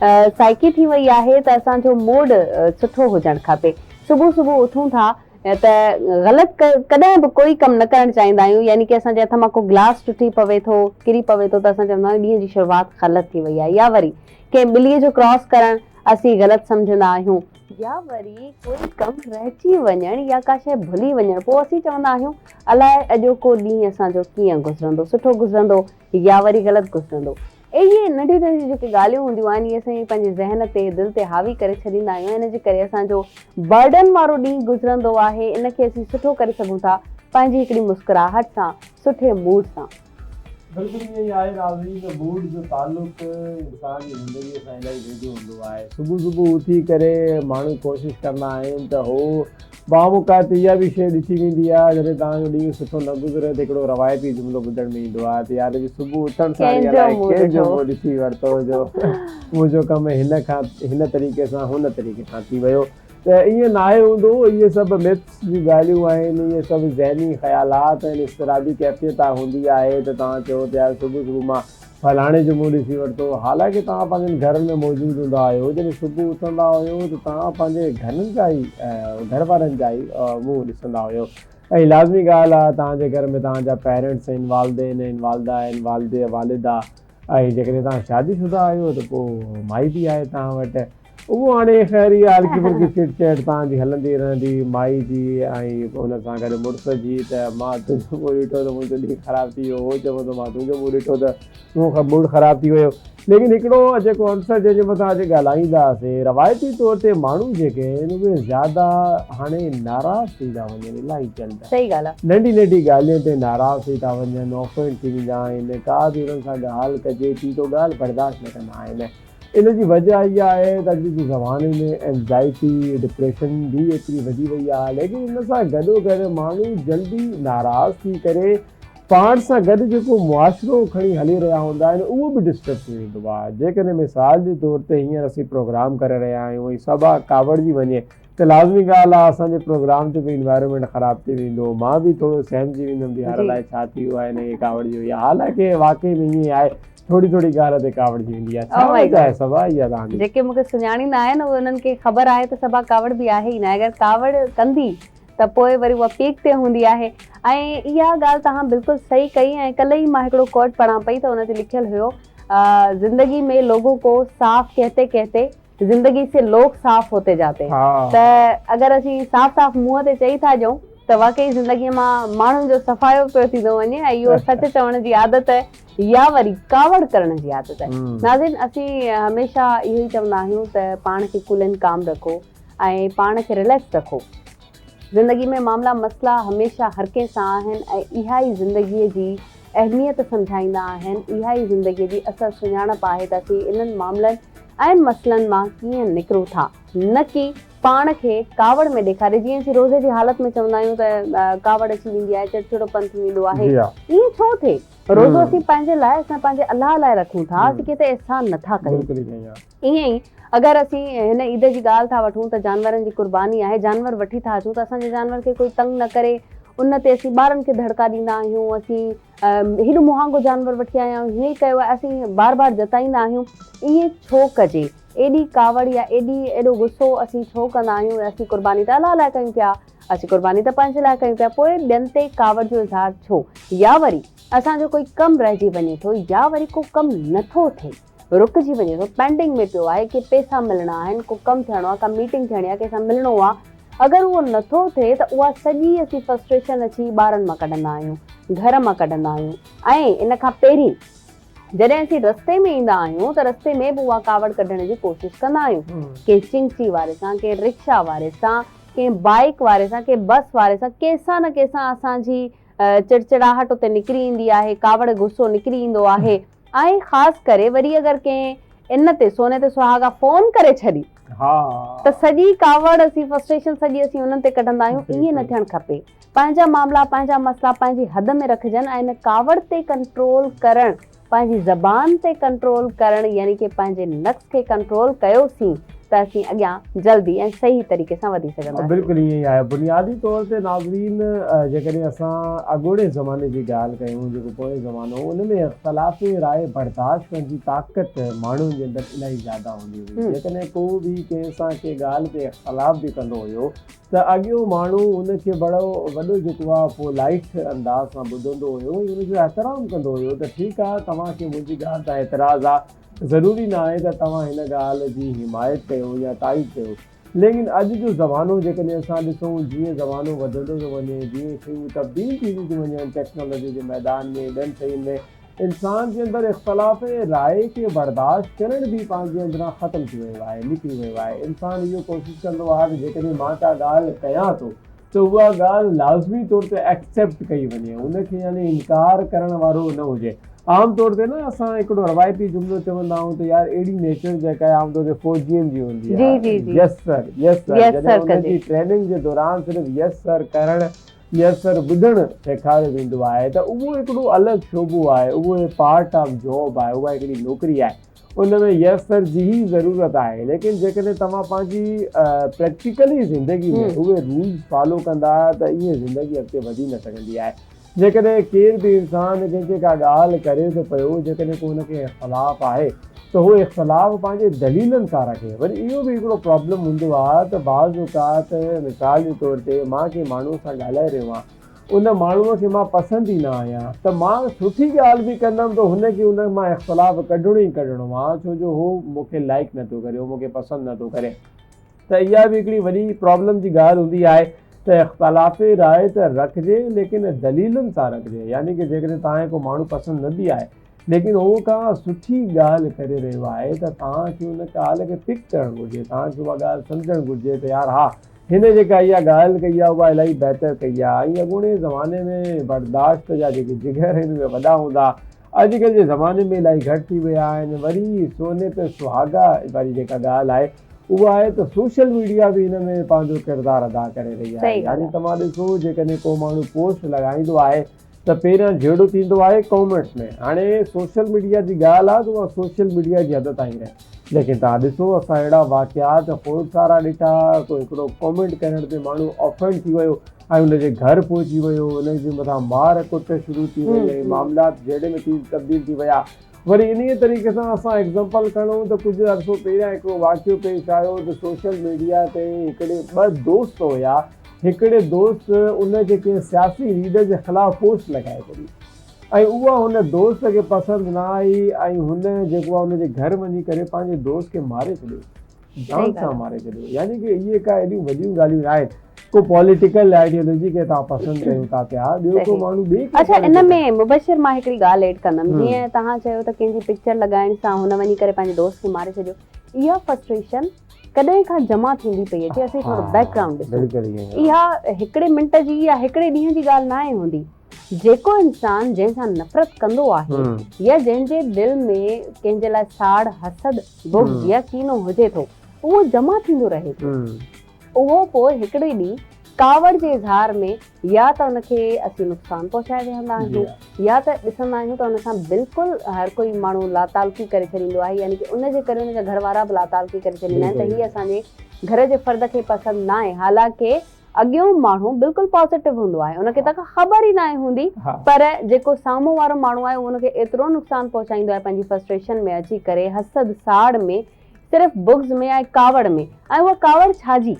سائيڪي ٿي وئي آهي ته اسان جو موڊ سٺو هجڻ کپي صبح صبح اٿون ٿا ته غلط ڪڏهن به ڪوئي ڪم نه ڪرڻ چاهيندا آهيون يعني ڪي اسان جي هٿ مان ڪو گلاس ٽٽي پوي ٿو ڪري پوي ٿو ته اسان چوندا آهيون ڏينهن جي شروعات غلط ٿي وئي آهي يا وري ڪنهن ٻلي جو ڪراس ڪرڻ اسين غلط سمجهندا آهيون يا وري ڪوئي ڪم رهجي وڃڻ يا ڪا شيء ڀلي وڃڻ پوء اسين چوندا آهيون الائي اڄوڪو ڏينهن اسان جو ڪيئن گذرندو سٺو گذرندو يا وري غلط گذرندو. اهي ننڍيون ننڍيون جيڪي ڳالهيون هونديون آهن اهي اسين پنهنجي ذهن تي دل تي حاوي ڪري ڇڏيندا آهيون ۽ ان جي ڪري اسان جو برڊن وارو ڏينهن گذرندو آهي ان کي اسين سٺو ڪري سگهون ٿا پنهنجي هڪڙي مسڪراهٽ سان سٺي موڊ سان. بلڪل ائين ئي آهي ناظرين ته موڊ جو تعلق انسان جي زندگي سان الاهي ويجهو هوندو آهي صبح صبح اٿي ڪري ماڻهو ڪوشش ڪندا آهن ته هو بعام اوقات اها به شيء ڏٺي ويندي آهي جڏهن توهان جو ڏينهن سٺو نه گذري ته هڪڙو روايتي جملو ٻڌڻ ۾ ايندو آهي ته يار اڄ صبح اٿڻ سان ڪنهن جو منهن ڏٺو؟ ڪنهن جو منهن ڏٺي ورتو جو منهنجو ڪم هن کان هن طريقي سان هن طريقي سان ٿي ويو ته ائين ناهي هوندو اهي سڀ Myths جون ڳالهيون آهن اهي سڀ ذهني خيالات ۽ اضطرابي ڪيفيت هوندي آهي ته توهان چئو ته يار صبح صبح مان ڦلاڻي جو منهن ڏسي ورتو. حالانڪه توهان پنهنجن گهرن ۾ موجود هوندا آهيو. جڏهن صبح اٿندا هيو ته توهان پنهنجي گهرن جا ئي گهر وارن جا ئي منهن ڏسندا هيو ۽ لازمي ڳالهه آهي توهان جي گهر ۾ توهان جا پيرنٽس آهن والدين آهن والده آهن والد يا والد آهي ۽ جيڪڏهن توهان شادي شده آهيو ته پوء مائي به آهي توهان وٽ. اهو هاڻي خير اها الجبر جي چٽ چيٽ توهان جي هلندي رهندي مائي جي ۽ ان سان گڏ مڙس جي ته مان تنهنجو منهن ڏٺو ته منهنجو ڏينهن خراب ٿي ويو هو چوندو مان تنهنجو منهن ڏٺو ته منهنجو موڊ خراب ٿي ويو ليڪن هڪڙو جيڪو عنصر جنهن جي مٿان اڄ ڳالهائينداسين روايتي طور تي ماڻهو جيڪي آهن اهي زياده هاڻي ناراض ٿي ٿا وڃن الائي چنڊ ننڍي ننڍي ڳالهين تي ناراض ٿي ٿا وڃن اوفينڊ ٿي ويندا آهن ڪا به انهن سان ڳالهه ڪجي ٿي ته ڳالهه برداشت نه ڪندا آهن ان جي وجهه اها آهي ته اڄ جي زماني ۾ اينزائٽي، ڊپريشن، به ايتري وڌي وئي آهي ليڪن ان سان گڏوگڏ ماڻهو جلدي ناراض ٿي ڪري پاڻ سان گڏ جيڪو معاشرو کڻي هلي رهيا هوندا آهن اهو به ڊسٽرب ٿي ويندو آهي جيڪڏهن مثال جي طور تي هينئر اسين پروگرام ڪري رهيا آهيون ۽ صبا ڪاوڙجي وڃي ته لازمي ڳالهه آهي اسان جي پروگرام جو به انوائرمينٽ خراب ٿي ويندو مان به ٿورو سهمجي ويندم ته يار الائي ڇا ٿي ويو آهي هن کي ڪاوڙجي وئي آهي حالانڪه واقعي ۾ ائين آهي ٿوري ٿوري ڳالهه تي ڪاوڙ جي ويندي آهي ڇا وجهه آهي صبا اها تنهنجي جيڪي مونکي سڃاڻيندا آهن اهي انهن کي خبر آهي ته صبا ڪاوڙ به آهي ئي نه اگر ڪاوڙ ڪندي ته پوء وري اها پيڪ تي هوندي آهي ۽ اها ڳالهه توهان بلڪل صحيح ڪئي ۽ ڪلهه ئي مان هڪڙو ڪوٽ پڙهان پئي ته ان تي لکيل هيو زندگي مين لوگون ڪو صاف ڪهتي ڪهتي زندگي سي لوگ صاف هوتي جاتي ته اگر اسين صاف صاف منهن تي چئي ٿا ڏيون ته واقعي زندگي مان ماڻهن جو صفايو پيو ٿيندو وڃي ۽ اهو سچ چوڻ جي عادت يا وري ڪاوڙ ڪرڻ جي عادت. ناظرين اسين هميشه اهو ئي چوندا آهيون ته پاڻ کي ڪول اينڊ ڪام رکو ۽ پاڻ کي رليڪس رکو. زندگي ۾ معاملا مسئلا هميشه هر ڪنهن سان آهن ۽ اها ئي زندگي جي اهميت سمجهائيندا آهن. اها ئي زندگي جي اصل سڃاڻپ آهي ته اسين انهن معاملن ۽ مسئلن مان ڪيئن نڪرون ٿا. نه ڪي پاڻ کي ڪاوڙ ۾ ڏيکاري جيئن اسين روزي جي حالت ۾ چوندا آهيون ته ڪاوڙ اچي ويندي آهي چڙچڙو پن ٿي ويندو آهي ائين ڇو ٿئي روزو اسين پنهنجي لاء اسين پنهنجي الله لاء رکون ٿا اسين ڪنهن تي احسان نه ٿا ڪيون. ائين ئي اگر اسين هن عيد جي ڳالهه ٿا وٺون ته جانورن جي قرباني آهي، جانور وٺي ٿا اچون ته اسان جي جانور کي ڪوئي تنگ نه ڪري ان تي اسين ٻارن کي دڙڪا ڏيندا آهيون، اسين هيڏو مهانگو جانور وٺي آيا آهيون، هيئن ڪيو آهي اسين بار بار جتائيندا آهيون ائين ڇو ڪجي، ايڏي ڪاوڙ يا ايڏي ايڏو غصو اسين ڇو ڪندا آهيون ۽ اسين قرباني ته الله لاء ڪيون پيا، اسين قرباني ته پنهنجي لاء ڪيون پيا پوء ٻين تي ڪاوڙ جو اظهار ڇو يا وري اسان جو ڪوئي ڪم رهجي وڃي ٿو يا وري ڪو ڪم نه ٿو ٿئي. رڪجي وڃي ٿو پينڊنگ ۾ پيو آهي ڪي پيسا ملڻا آهن ڪو ڪم ٿيڻو آهي ڪا ميٽنگ ٿيڻي آهي ڪنهن سان ملڻو آهي اگر اهو نٿو ٿئي ته اها سڄي اسين فرسٽريشن اچي ٻارن مان ڪڍندا آهيون گهر مان ڪڍندا آهيون ۽ ان کان پهرين جڏهن اسين رستي ۾ ايندا آهيون ته رستي ۾ به اها ڪاوڙ ڪڍڻ جي ڪوشش ڪندا آهيون ڪنهن چنگچي واري سان ڪنهن رڪشا واري سان ڪنهن بائيڪ واري سان ڪنهن بس واري سان ڪنهن سان نه ڪنهن سان اسان جي چڙچڙاهٽ اتي نڪري ايندي آهي ڪاوڙ غصو نڪري ايندو آهي ۽ خاص ڪري وري اگر ڪنهن ان تي سوني تي سهاڳا فون ڪري ڇڏي ته سڄي ڪاوڙ اسين فرسٽريشن سڄي اسين انهن تي ڪڍندا آهيون ائين نه ٿيڻ کپي پنهنجا معاملا پنهنجا مسئلا پنهنجي حد ۾ رکجن ۽ ان ڪاوڙ تي ڪنٽرول ڪرڻ پنهنجي زبان تي ڪنٽرول ڪرڻ يعني ڪي پنهنجي نقص کي ڪنٽرول ڪيو سين ته اسين اڳيان جلدي ۽ صحيح طريقي سان وڌي سگهنداسين. بلڪل ائين ئي آهي بنيادي طور تي ناظرين جيڪڏهن اسان اڳوڻي زماني جي ڳالهه ڪيون جيڪو پوئين زمانو هو ان ۾ اختلاف راء برداشت ڪرڻ جي طاقت ماڻهن جي اندر الاهي زياده هوندي هئي جيڪڏهن ڪو به ڪنهن سان ڪنهن ڳالهه تي اختلاف به ڪندو هيو ته اڳيون ماڻهو ان کي بڙو وڏو جيڪو آهي پو لائيٽ انداز سان ٻڌندو هيو ۽ ان جو احترام ڪندو هيو ته ٺيڪ آهي توهان کي منهنجي ڳالهه تان اعتراض آهي ضروري ناهي ته توهان هن ڳالهه جي حمايت ڪيو يا تائيد ڪيو، ليڪن اڄ جو زمانو جيڪڏهن اسان ڏسون، جيئن زمانو وڌندو ٿو وڃي، جيئن شيون تبديل ٿينديون ٿيون وڃن، ٽيڪنالاجي جي ميدان ۾ ٻين شين ۾، انسان جي اندر اختلاف راء کي برداشت ڪرڻ به پنهنجي اندران ختم ٿي ويو آهي، نڪري ويو آهي، انسان اهو ڪوشش ڪندو آهي ته جيڪڏهن مان ڪا ڳالهه ڪيان ٿو، ته اها ڳالهه لازمي طور تي ايڪسيپٽ ڪئي وڃي، ان کي يعني انڪار ڪرڻ وارو نه هجي. عام طور تي نه اسان هڪڙو روايتي جملو چوندا آهيون ته يار اهڙي نيچر جيڪا عام طور تي فوجين جي هوندي آهي يس سر يس سر جڏهن انهن جي ٽريننگ جي دوران صرف يس سر ڪرڻ يس سر ٻڌڻ سيکاريو ويندو آهي ته اهو هڪڙو الڳ شعبو آهي اهو پارٽ آف جاب آهي اها هڪڙي نوڪري آهي. ان ۾ يس سر جي ئي ضرورت آهي ليڪن جيڪڏهن توهان پنهنجي پريڪٽيڪلي زندگي ۾ اهي رولز فالو ڪندا ته ائين زندگي اڳتي وڌي نه سگهندي آهي جيڪڏهن ڪير به انسان ڪنهن کي ڪا ڳالهه ڪري ٿو پيو جيڪڏهن ڪو ان کي اختلاف آهي ته هو اختلاف پنهنجي دليلن سان رکي وري اهو به هڪڙو پرابلم هوندو آهي ته بعض اوقات مثال جي طور تي مان ڪنهن ماڻهو سان ڳالهائي رهيو آهيان ان ماڻهوء کي مان پسند ئي نه آهيان، ته مان سٺي ڳالهه به ڪندم ته هن کي ان مان اختلاف ڪڍڻو ئي ڪڍڻو آهي، ڇو جو هو مون کي لائيڪ نٿو ڪري، هو مون کي پسند نٿو ڪري. ته اها به هڪڙي وڏي پرابلم جي ڳالهه هوندي آهي ته اختلاف راء ته رکجي، ليڪن دليلن سان رکجي، يعني ته جيڪڏهن توهان کي ڪو ماڻهو پسند نه به آهي، ليڪن هو ڪا سٺي ڳالهه ڪري رهيو آهي ته توهان کي ان ڳالهه کي پڪ ڪرڻ گهرجي، توهان کي اها ڳالهه سمجهڻ گهرجي ته يار ها هن جيڪا اها ڳالهه ڪئي آهي اها الاهي بهتر ڪئي آهي ۽ اڳوڻي زماني ۾ برداشت جا جيڪي جگر آهن اهي وڏا هوندا ها اڄڪلهه جي زماني ۾ الاهي گهٽ ٿي ويا آهن وري سوني پي سهاڳا واري جيڪا ڳالهه آهي اها آهي ته سوشل ميڊيا به هن ۾ پنهنجو ڪردار ادا ڪري رهي آهي يعني توهان ڏسو جيڪڏهن ڪو ماڻهو پوسٽ لڳائيندو آهي ته پهريان جهيڙو ٿيندو آهي ڪامينٽس ۾ هاڻي سوشل ميڊيا جي ڳالهه آهي ته اها سوشل ميڊيا جي حد تائين رهي ليڪن توهان ڏسو اسان اهڙا واقعات خوڙ سارا ڏٺا ڪو هڪڙو ڪامينٽ ڪرڻ تي ماڻهو آفينڊ ٿي ويو ۽ ان جي گهر پهچي ويو ان جي مٿان مار ڪٽ شروع ٿي وئي ۽ معاملات جهيڙي ۾ ٿي تبديل ٿي ويا وري انهيء طريقي سان اسان ايگزامپل کڻون ته ڪجهه عرصو پهريان هڪڙو واقعو پيش آيو ته سوشل ميڊيا تي هڪڙي ٻه دوست هيا هڪڙي دوست ان جي ڪنهن سياسي ليڊر جي خلاف پوسٽ لڳائي ڇڏي ۽ اها هن دوست کي پسند نه آئي ۽ هن جيڪو آهي ان جي گهر وڃي ڪري پنهنجي دوست کي ماري ڇڏيو. جان سان ماري ڇڏيو يعني ڪي اهي ڪا اهڙيون وڏيون ڳالهيون نه آهن ڪو پوليٽيڪل آئيڊيولوجي کي تان پسند ڪيو ٿا پيا ٻيو ڪو ماڻهو ٻي ڪي اڇا ان ۾ مبشر مان هڪڙي ڳالهه ايڊ ڪندم جيئن تهان چيو ته ڪنهن جي پڪچر لڳائڻ سان هن وڃي ڪري پنهنجي دوست کي ماري ڇڏيو اها فرسٽريشن ڪڏهن کان جمع ٿيندي پئي اچي اسين ٿورو بيڪ گرائونڊ ڏسون اها هڪڙي منٽ جي يا هڪڙي ڏينهن جي ڳالهه نه آهي هوندي جيڪو انسان جنهن سان نفرت ڪندو آهي يا جنهن جي دل ۾ ڪنهن جي لاء ساڙ، حسد، بغض يا ڪينو هجي ٿو، اهو جمع ٿيندو رهي ٿو. اهو پوء هڪڙي ڏينهن ڪاوڙ جي اظهار ۾ يا ته ان کي اسين نقصان پهچائي ويهندا آهيون يا ته ڏسندا آهيون ته ان سان بلڪل هر ڪوئي ماڻهو لاتعلقي ڪري ڇڏيندو آهي يعني ڪي ان جي ڪري ان جا گهر وارا به لاتعلقي ڪري ڇڏيندا آهن ته هي اسان جي گهر جي فرد کي پسند ناهي حالانڪه اڳيون ماڻهو بلڪل پازيٽو هوندو آهي ان کي ته ڪا خبر ئي ناهي هوندي پر جيڪو سامهون وارو ماڻهو آهي ان کي ايترو نقصان پهچائيندو آهي پنهنجي فرسٽريشن ۾ اچي ڪري حسد ساڙ ۾ صرف بغض ۾ ۽ ڪاوڙ ۾ ۽ اها ڪاوڙ ڇا جي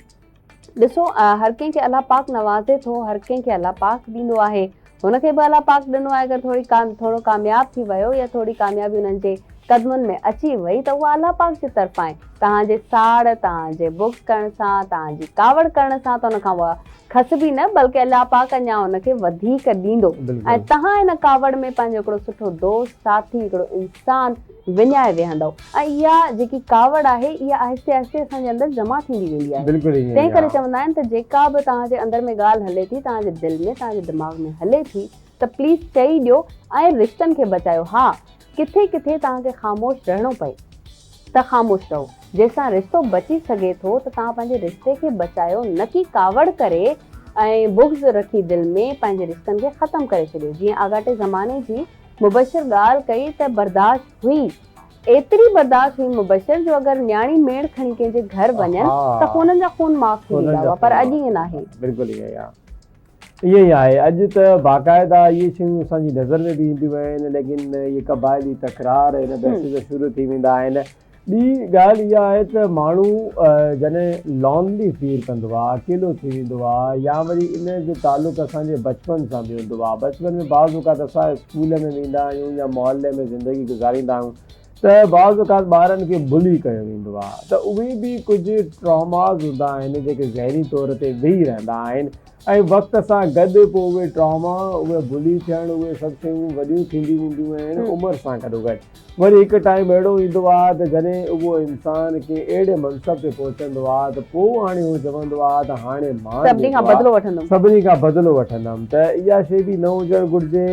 ڏسو هر ڪنهن کي الله پاڪ نوازي ٿو هر ڪنهن کي الله پاڪ ڏيندو آهي هن کي به الله پاڪ ڏنو آهي اگر ٿوري ٿورو ڪامياب ٿي ويو يا ٿوري ڪاميابي انهن جي قدمن ۾ اچي وئي ته اها الله پاڪ جي طرفان آهي توهان جي ساڙ توهان جي بغض ڪرڻ سان توهان جي ڪاوڙ ڪرڻ سان ته ان کان اها کسبي نه بلڪه الله پاڪ اڃا ان کي وڌيڪ ڏيندو ۽ توهان ان ڪاوڙ ۾ پنهنجو هڪڙو سٺو دوست ساٿي هڪڙو انسان وڃائي ويهندؤ ۽ اها جيڪي ڪاوڙ آهي اها آهستي آهستي اسان جي اندر جمع ٿيندي ويندي آهي تنهن ڪري چوندا آهن ته جيڪا به توهان جي اندر ۾ ڳالهه هلي ٿي توهان جي دل ۾ توهان جي دماغ ۾ هلي ٿي ته پليز چئي ڏيو ۽ رشتن کي بچايو ها ڪٿي ڪٿي توهان کي خاموش رهڻو پئي ته خاموش رهو جيسان رشتو بچي سگهي ٿو ته توهان پنهنجي رشتي کي بچايو نه ڪي ڪاوڙ ڪري ۽ بغض رکي دل ۾ پنهنجي رشتن کي ختم ڪري ڇڏيو جيئن آڳاٽي زماني جي مبشر ڳالهه ڪئي ته برداشت هئي. ايتري برداشت هئي مبشر جو اگر نياڻي ميڻ کڻي ڪنهن جي گهر وڃن ته خونن جا خون معاف ٿي ويندا هئا پر اڄ ائين ناهي. بلڪل ائين ئي آهي. ائين ئي آهي. اڄ ته باقاعده اهي شيون اسان جي نظر ۾ به اينديون آهن ليڪن اهي قبائلي تڪرار هن بحث جا شروع ٿي ويندا آهن. ٻي ڳالهه اها آهي ته ماڻهو جڏهن لانلي فيل ڪندو آهي، اڪيلو ٿي ويندو آهي يا وري ان جو تعلق اسان جي بچپن سان به هوندو آهي. بچپن ۾ بعض اوقات اسان اسڪول ۾ ويندا آهيون يا محلي ۾ زندگي گذاريندا آهيون ته بعض اوقات ٻارن کي بلي ڪيو ويندو آهي ته اهي به ڪجهه ٽراماز هوندا آهن جيڪي ذهني طور تي ويهي رهندا آهن ۽ وقت سان گڏ پوء اهي ٽراما، اهي بلي ٿيڻ، اهي سڀ شيون وڏيون ٿينديون وينديون آهن عمر سان گڏوگڏ. وري هڪ ٽائيم اهڙو ايندو آهي ته جڏهن اهو انسان ڪنهن اهڙي منصب تي پهچندو آهي ته پوء هاڻي هو چوندو آهي ته هاڻي مان جيڪو آهي سڀني کان بدلو وٺندم ته اها شيء به نه هجڻ گهرجي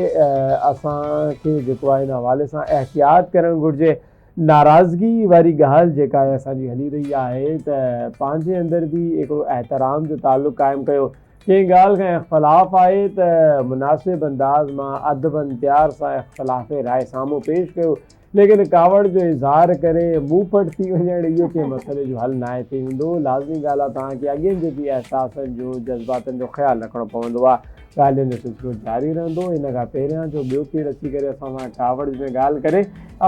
اسان کي جيڪو آهي ان حوالي سان احتياط ڪرڻ گهرجي ناراضگي واري ڳالهه جيڪا آهي اسان جي هلي رهي آهي ته پنهنجي اندر به هڪڙو احترام جو تعلق قائم ڪيو ڪنهن ڳالهه کان اختلاف آهي ته مناسب انداز مان ادب ۽ پيار سان اختلاف راء سامهون پيش ڪيو ليڪن ڪاوڙ جو اظهار ڪري منهن ڦٽ ٿي وڃڻ اهو ڪنهن مسئلي جو حل ناهي ٿي ويندو لازمي ڳالهه آهي توهان کي اڳين جيڪي احساسن جو جذباتن جو خيال رکڻو پوندو آهي ڳالهين جو سلسلو جاري رهندو ان کان پهريان جو ٻيو ڪير اچي ڪري اسان سان ڪاوڙ ۾ ڳالهه ڪري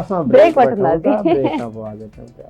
اسان بريڪ وٺون ٿا بريڪ کان پوء اچون پيا.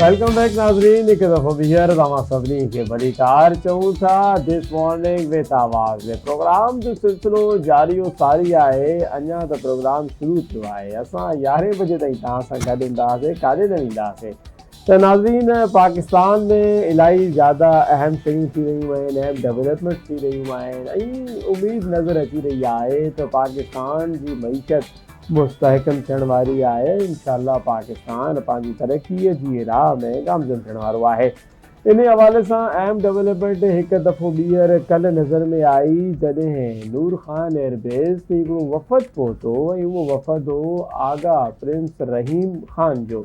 ويلڪم بيڪ ناظرين هڪ دفعو ٻيهر توهان سڀني کي ڀلي ڪار چئون ٿا this morning with Awaz ۾ programme جو سلسلو جاري و ساري آهي اڃا ته پروگرام شروع ٿيو آهي اسان يارهين بجي تائين توهان سان گڏ هوندا هئاسين ڪاڏي نه ويندا هئاسين ته ناظرين پاڪستان ۾ الاهي زياده اهم شيون ٿي رهيون آهن اهم ڊيولپمينٽس ٿي رهيون آهن ۽ اميد نظر اچي رهي آهي ته پاڪستان جي معيشت مستحڪم ٿيڻ واري آهي انشاء الله پاڪستان پنهنجي ترقي جي راهه ۾ گامزن ٿيڻ وارو آهي انهي حوالي سان اهم ڊولپمينٽ هڪ دفعو ٻيهر ڪلهه نظر ۾ آئي جڏهن نور خان ايئر بيس تي هڪڙو وفد پهتو ۽ اهو وفد هو آغا پرنس رحيم خان جو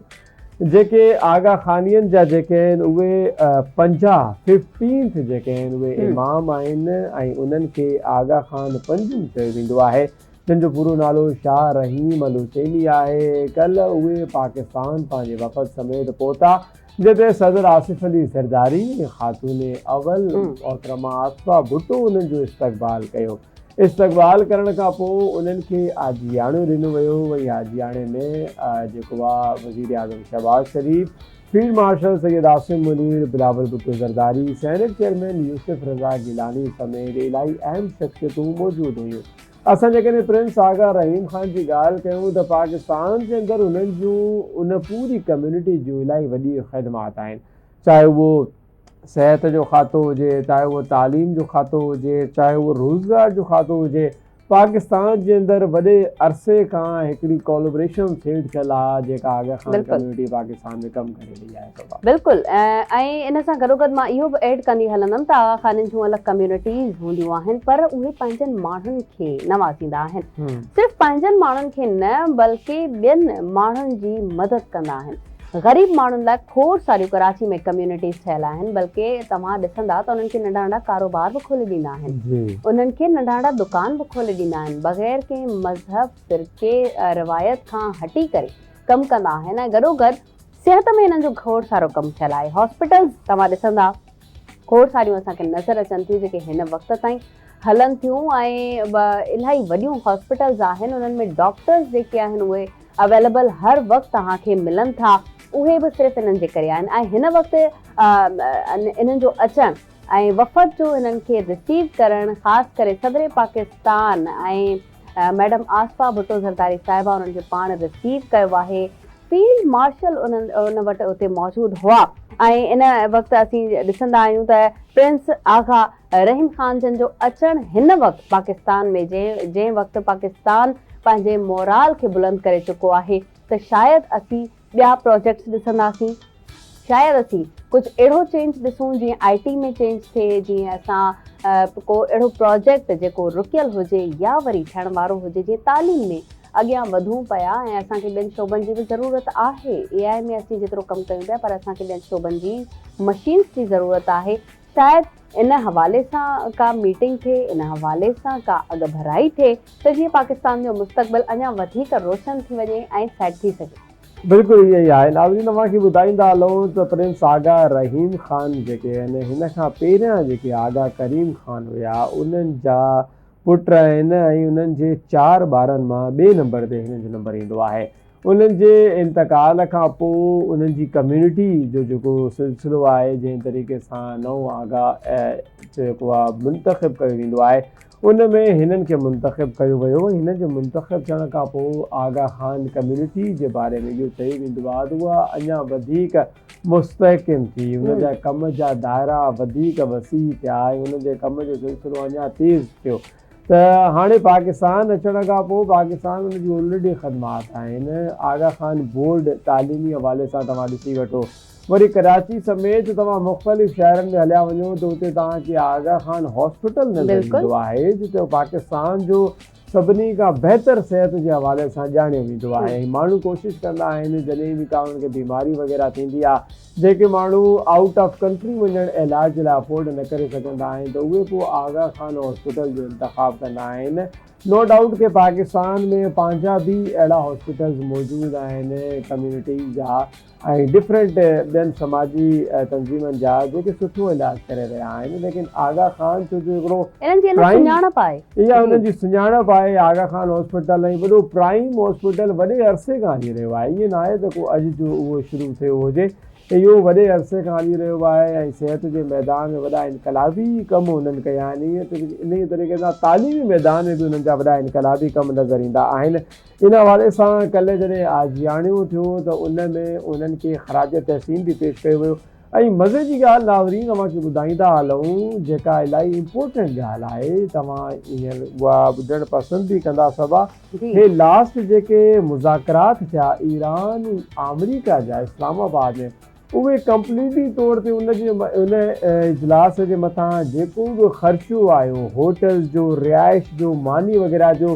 جيڪي آغا خانين جا جيڪي آهن اهي پنجاهه Fifteenth جيڪي آهن اهي امام آهن ۽ انهن کي آغا خان پنجم چيو ويندو آهي. جن جو پورو نالو شاهه رحيم الحسيني آهي، ڪلهه اهي پاڪستان پنهنجي وفد سميت پهتا، جنهن تي صدر آصف علي زرداري ۽ خاتون اول محترمه آصفه ڀٽو انهن جو استقبال ڪيو. استقبال ڪرڻ کان پوء انهن کي عاجياڻو ڏنو ويو، وئي عاجياڻي ۾ جيڪو وزيراعظم Shehbaz Sharif, field marshal Syed Asim Munir, Bilawal Bhutto Zardari, senate chairman Yousuf Raza Gilani سميت الائي اهم شخصيتون موجود هيون. اسان جيڪڏهن پرنس آغا رحيم خان جي ڳالهه ڪيون ته پاڪستان جي اندر هنن جون ان پوري ڪميونٽي جون الائي وڏي خدمات آهن چاهي اهو صحت جو کاتو هجي، چاهي اهو تعليم جو کاتو هجي، چاهي اهو روزگار جو کاتو هجي، پاڪستان جي اندر وڏي عرصي کان هڪڙي ڪولابريشن سيٽ ٿيل آ جيڪا آغا خان ڪميونٽي پاڪستان ۾ ڪم ڪري رهي آهي صبا. بلڪل ۽ ان سان گڏوگڏ مان اهو به ايڊ ڪندي هلندم ته آغا خانين جون الڳ ڪميونٽيز هونديون آهن پر اهي پنهنجن ماڻهن کي نوازيندا آهن صرف پنهنجن ماڻهن کي نه بلڪه ٻين ماڻهن جي مدد ڪندا آهن. غريب ماڻهن لاء کوڙ ساريون ڪراچي ۾ ڪميونٽيز ٺهيل آهن بلڪه توهان ڏسندا ته انهن کي ننڍا ننڍا ڪاروبار به کولي ڏيندا آهن انهن کي ننڍا ننڍا دڪان به کولي ڏيندا آهن بغير ڪنهن مذهب فرقي روايت کان هٽي ڪري ڪم ڪندا آهن ۽ گڏو گڏ صحت ۾ هنن جو کوڙ سارو ڪم ٿيل آهي هاسپيٽلز توهان ڏسندا کوڙ ساريون اسان کي نظر اچن ٿيون جيڪي هن وقت تائين هلن ٿيون ۽ الاهي وڏيون هاسپيٽلز آهن انهن ۾ ڊاڪٽرز جيڪي آهن اهي اويليبل هر وقت اوهان کي ملن ٿا اهي به صرف انهن جي ڪري آهن ۽ هن وقت انهن جو اچڻ ۽ وفد جو هنن کي رسيو ڪرڻ خاص ڪري صدر پاڪستان ۽ ميڊم آصفه ڀٽو زرداري صاحبه انهن کي پاڻ رسيو ڪيو آهي، فيلڊ مارشل ان وٽ اتي موجود هئا ۽ ان وقت اسين ڏسندا آهيون ته پرنس آغا رحيم خان جن جو اچڻ هن وقت پاڪستان ۾ جنهن وقت پاڪستان پنهنجي مورال کي بلند ڪري چڪو آهي ته شايد اسين ٻيا پراجيڪٽس ڏسنداسين شايد اسين ڪجهه اهڙو چينج ڏسون جيئن آئي ٽي ۾ چينج ٿئي جيئن اسان ڪو اهڙو پراجيڪٽ جيڪو رڪيل هجي يا وري ٺهڻ وارو هجي جيئن تعليم ۾ اڳيان وڌون پيا ۽ اسان کي ٻين شعبن جي به ضرورت آهي اي آئي ۾ اسين جيترو ڪم ڪيون پيا پر اسان کي ٻين شعبن جي مشينس جي ضرورت آهي شايد ان حوالي سان ڪا ميٽنگ ٿئي، ان حوالي سان ڪا اڳڀرائي ٿئي ته جيئن پاڪستان جو مستقبل اڃا وڌيڪ روشن ٿي وڃي ۽ سيٽ ٿي سگهي. بلڪل ائين ئي آهي ناظرين اوهان کي ٻڌائيندا هلون ته پرنس آغا رحيم خان جيڪي آهن هن کان پهريان جيڪي آغا ڪريم خان هيا انهن جا پٽ آهن ۽ انهن جي چار ٻارن مان ٻئي نمبر تي هنن جو نمبر ايندو آهي. انهن جي انتقال کان پوء انهن جي ڪميونٽي جو جيڪو سلسلو آهي جنهن طريقي سان نئون آغا جيڪو آهي منتخب ڪيو ويندو آهي ان ۾ هنن کي منتخب ڪيو ويو هنن جي منتخب ٿيڻ کان پوء آغا خان ڪميونٽي جي باري ۾ اهو چيو ويندو آهي ته اها اڃا وڌيڪ مستحڪم ٿي ان جا ڪم جا دائرا وڌيڪ وسيع ٿيا ۽ ان جي ڪم جو سلسلو اڃا تيز ٿيو ته هاڻي پاڪستان اچڻ کان پوء پاڪستان ان جون الريڊي خدمات آهن. آغا خان بورڊ تعليمي حوالي سان توهان ڏسي وٺو. وري ڪراچي سميت توهان مختلف شهرن ۾ هليا وڃو ته اتي توهان کي آغا خان هاسپيٽل نظر ايندو آهي جتي پاڪستان جو سڀني کان بهتر صحت جي حوالي سان ڄاڻيو ويندو آهي ۽ ماڻهو ڪوشش ڪندا آهن جڏهن به ڪا انهن کي بيماري وغيره ٿيندي آهي جيڪي ماڻهو آئوٽ آف ڪنٽري وڃڻ علاج لاء افورڊ نه ڪري سگهندا آهن ته اهي پوء آغا خان هاسپيٽل جو انتخاب ڪندا آهن. نو ڊائوٽ ڪي پاڪستان ۾ پنهنجا به اهڙا هاسپيٽلز موجود آهن ڪميونٽي جا ۽ ڊفرنٽ ٻين سماجي تنظيمن جا جيڪي سٺو علاج ڪري رهيا آهن ليڪن آغا خان ڇو جو هڪڙو انهن جي الڳ سڃاڻپ آهي اها هنن جي سڃاڻپ آهي. آغا خان هاسپيٽل ۽ وڏو پرائيم هاسپيٽل وڏي عرصي کان هلي رهيو آهي. ائين ناهي ته ڪو اڄ جو اهو شروع ٿيو هجي. اهو وڏي عرصي کان هلي رهيو آهي ۽ صحت جي ميدان ۾ وڏا انقلابي ڪم هنن ڪيا آهن. ائين ته انهيء طريقي سان تعليمي ميدان ۾ به هنن جا وڏا انقلابي ڪم نظر ايندا آهن. ان حوالي سان ڪلهه جڏهن آجياڻيون ٿيو ته ان ۾ هنن کي خراج تحسين به پيش ڪيو ويو. ۽ مزي جي ڳالهه ناظرين اوهان کي ٻڌائيندا هلون جيڪا الاهي امپورٽنٽ ڳالهه آهي توهان هينئر اها ٻڌڻ پسند به ڪندا صبا هي لاسٽ جيڪي مذاڪرات ٿيا ايران ۽ آمريڪا جا اسلام آباد ۾ اهي ڪمپليٽلي طور تي ان جي ان اجلاس جي مٿان جيڪو به خرچو آيو هوٽلز جو رهائش جو ماني وغيره جو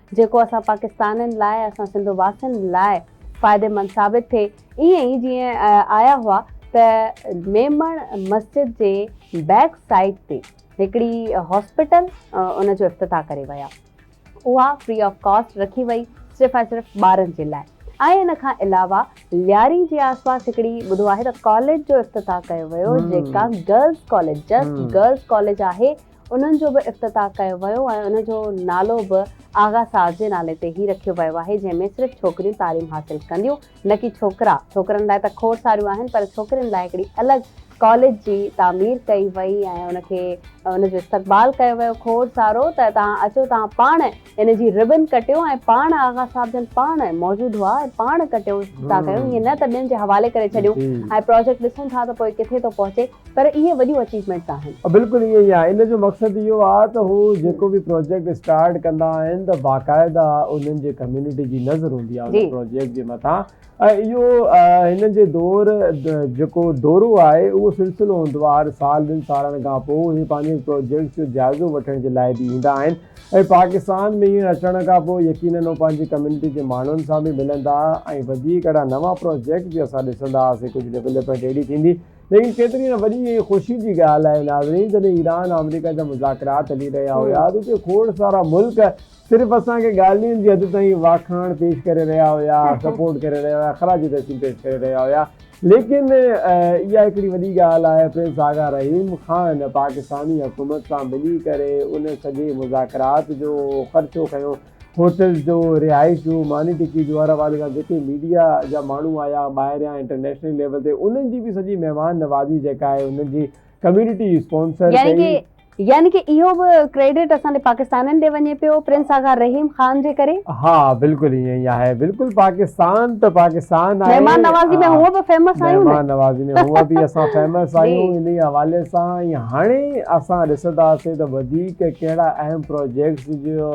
جيڪو اسان پاڪستانين لاء اسان سنڌ واسين لاء فائديمند ثابت ٿئي ائين ئي جيئن آيا هئا ته ميمڻ مسجد جي بيڪ سائيڊ تي هڪڙي هاسپيٽل ان جو افتتاح ڪري ويا اها فري آف ڪاسٽ رکي وئي صرف ۽ صرف ٻارن جي لاء ۽ ان کان علاوه لياري جي آس پاس هڪڙي ٻڌو آهي ته ڪاليج جو افتتاح ڪيو ويو جيڪا girls college just girls college آهي انهن جو به افتتاح ڪيو ويو ۽ ان جو نالو به آغا صاحب جي نالي تي ئي رکيو ويو آهي جنهن ۾ صرف ڇوڪريون تعليم حاصل ڪنديون نه ڪي ڇوڪرا، ڇوڪرن لاء ته کوڙ ساريون آهن پر ڇوڪرين لاء هڪڙي الڳ ڪاليج جي تعمير ڪئي وئي ۽ ان کي ان جو استقبال ڪيو ويو کوڙ سارو ته توهان اچو توهان پاڻ ان جي ربن ڪٽيو ۽ پاڻ آغا صاحب جن پاڻ موجود هئا ۽ پاڻ ڪٽيو ٿا ڪيون ائين نه ته ٻين جي حوالي ڪري ڇڏيون ۽ پراجيڪٽ ڏسون ٿا ته پوء ڪٿي ٿو پهچي پر اهي وڏيون اچيومينٽس آهن. بلڪل ائين ئي آهي ان جو مقصد اهو آهي ته هو جيڪو به پراجيڪٽ اسٽارٽ ڪندا آهن ته باقاعده انهن جي ڪميونٽي جي نظر هوندي آهي ان پراجيڪٽ جي مٿان. اهو هن جي دور جيڪو دورو آهي اهو سلسلو هوندو آهي هر سال ٻن سالن کان پوء هي پنهنجي پروجيڪٽس جو جائزو وٺڻ جي لاء به ايندا آهن ۽ پاڪستان ۾ هينئر اچڻ کان پوء يقينن هو پنهنجي ڪميونٽي جي ماڻهن سان به ملندا ۽ وڌيڪ اهڙا نوان پروجيڪٽ به اسان ڏسندا هئاسين ڪجهه ڊولپمينٽ اهڙي ٿيندي ليڪن ڪيتري نه وڏي ۽ خوشي جي ڳالهه آهي ناظرين جڏهن ايران آمريڪا جا مذاڪرات هلي رهيا هيا ته اتي کوڙ سارا ملڪ صرف اسان کي ڳالهين جي حد تائين واکاڻ پيش ڪري رهيا هيا، سپورٽ ڪري رهيا هيا، خراج تحسين پيش ڪري رهيا هيا ليڪن اها هڪڙي وڏي ڳالهه آهي پرنس آغا رحيم خان پاڪستاني حڪومت سان ملي ڪري ان سڄي مذاڪرات جو خرچو کنيو، هوٽلز جو، رهائش جو، ماني ٽڪي جو هر حوالي سان جيڪي ميڊيا جا ماڻهو آيا ٻاهريان انٽرنيشنل ليول تي انهن جي به سڄي مهمان نوازي جيڪا آهي انهن جي ڪميونٽي اسپانسر ڪئي. يعني ڪي اهو به ڪريڊٽ اسان ڏي پاڪستانين ڏي وڃي پيو پرنس آغا رحيم خان جي ڪري. ها بلڪل ائين ئي آهي بلڪل پاڪستان ته پاڪستان آهي مهمان نوازي ۾ هونء به فيمس آهيون مهمان نوازي ۾ هونء به اسان فيمس آهيون انهي حوالي سان ۽ هاڻي اسان ڏسنداسين ته وڌيڪ ڪهڙا اهم پروجيڪٽس جو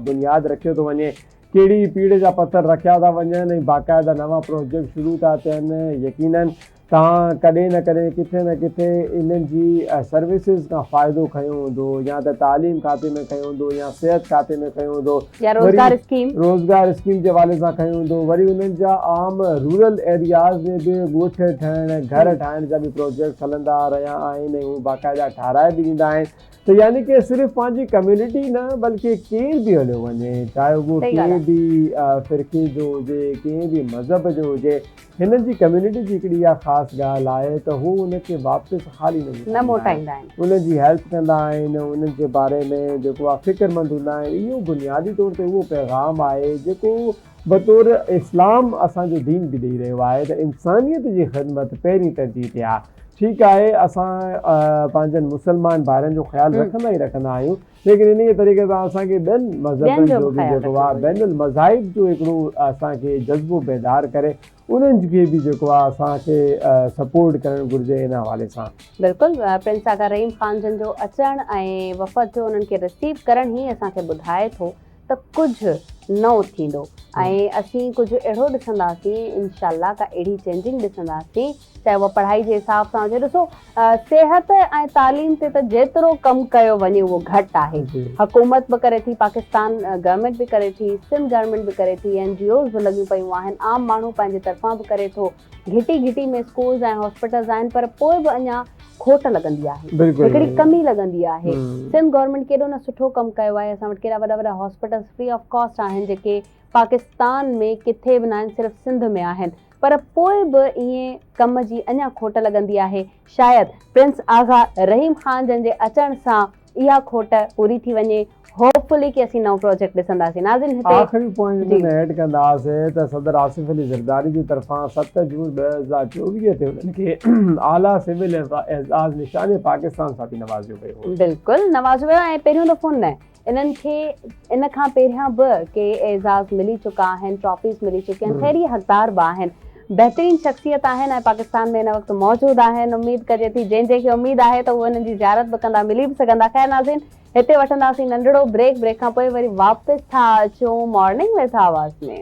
بنياد رکيو ٿو وڃي ڪهڙي پيڙهه جا پٿر رکيا ٿا وڃن ۽ باقاعده نوان پروجيڪٽ شروع ٿا ٿين يقينن توهان ڪڏهن نه ڪڏهن ڪٿي نه ڪٿي انهن جي سروسز کان فائدو کنيو هوندو يا ته تعليم کاتي ۾ کنيو هوندو يا صحت کاتي ۾ کنيو هوندو يا روزگار اسڪيم روزگار اسڪيم جي حوالي سان کنيو هوندو وري انهن جا عام رورل ايرياز ۾ به ڳوٺ ٺهڻ گهر ٺاهڻ جا به پروجيڪٽس هلندا رهيا آهن ۽ هو باقاعده ٺهرائي به ڏيندا آهن ته يعني ڪي صرف پنهنجي ڪميونٽي نه بلڪه ڪير به هليو وڃي چاهي اهو ڪنهن به فرقي جو هجي ڪنهن به مذهب جو هجي هنن جي ڪميونٽي جي هڪڙي اها خاص ڳالهه آهي ته هو ان کي واپس خالي نه موٽائيندا آهن. انهن جي هيلپ ڪندا آهن ۽ انهن جي باري ۾ جيڪو آهي فڪرمند هوندا آهن. اهو بنيادي طور تي اهو پيغام آهي جيڪو بطور اسلام اسان جو دين به ڏئي رهيو آهي ته انسانيت جي خدمت پهرين ترجيح تي آهي. ٺيڪ آهي اسان پنهنجن مسلمان ڀائرن جو خيال رکندا ئي رکندا آهيون. ليڪن انهيء طريقي سان اسان کي ٻين مذهبن جو به جيڪو آهي بين المذاهب جو هڪڙو اسان کي جذبو بيدار ڪري انهن کي به جيڪو آهي اسان کي سپورٽ ڪرڻ گهرجي ان حوالي سان. بلڪل پرنس آغا رحيم خان جن جو اچڻ ۽ وفد جو انهن کي رسيو ڪرڻ هي اسان کي ٻڌائي ٿو ته ڪجهه نئون ٿيندو ۽ اسين ڪجهه اهڙو ڏسنداسين انشاء الله ڪا اهڙي چينجنگ ڏسنداسين چاهي اها پڙهائي جي حساب سان هجي ڏسو صحت ۽ تعليم تي ته جيترو ڪم ڪيو وڃي اهو گهٽ آهي حڪومت به ڪري ٿي پاڪستان گورنمينٽ به ڪري ٿي سنڌ گورنمينٽ به ڪري ٿي اين جي اوز به لڳيون پيون آهن عام ماڻهو پنهنجي طرفان به ڪري ٿو گهٽي گهٽي ۾ اسڪولز ۽ هاسپيٽلز آهن پر پوء به اڃا کوٽ لڳندي آهي هڪڙي ڪمي لڳندي آهي سنڌ گورنمينٽ ڪيڏو نه سٺو ڪم ڪيو آهي اسان وٽ ڪيڏا وڏا وڏا هاسپيٽلز فري آف ڪاسٽ آهن جيڪي پاڪستان ۾ ڪٿي به ناهن صرف سنڌ ۾ آهن پر پوء به ائين ڪم جي اڃا کوٽ لڳندي آهي شايد پرنس آغا رحيم خان جن جي اچڻ سان اها کوٽ پوري ٿي وڃي هوپ فلي ڪي اسين نئون پروجيڪٽ ڏسنداسين ناظرين هتي آخري پوائنٽ ان ۾ ايڊ ڪنداسين ته صدر آصف علي زرداري جي طرفان ست جون ٻه هزار چوويهه تي انهن کي اعليٰ سول اعزاز نشان پاڪستان سان به نوازيو ويو هو. بلڪل نوازيو ويو ۽ پهريون دفعو نه انهن کي ان کان پهريان به ڪي اعزاز ملي چڪا آهن ٽرافيز ملي چڪيون آهن خير اهي حقدار به آهن. بهترين شخصيت آهن ۽ پاڪستان ۾ هن وقت موجود آهن اميد ڪجي ٿي جنهن جنهن کي اميد آهي ته اهي هنن جي زيارت به ڪندا ملي به سگهندا خير ناظرين هتي وٺنداسين ننڍڙو بريڪ بريڪ کان پوء وري واپس ٿا اچون morning with Awaz ۾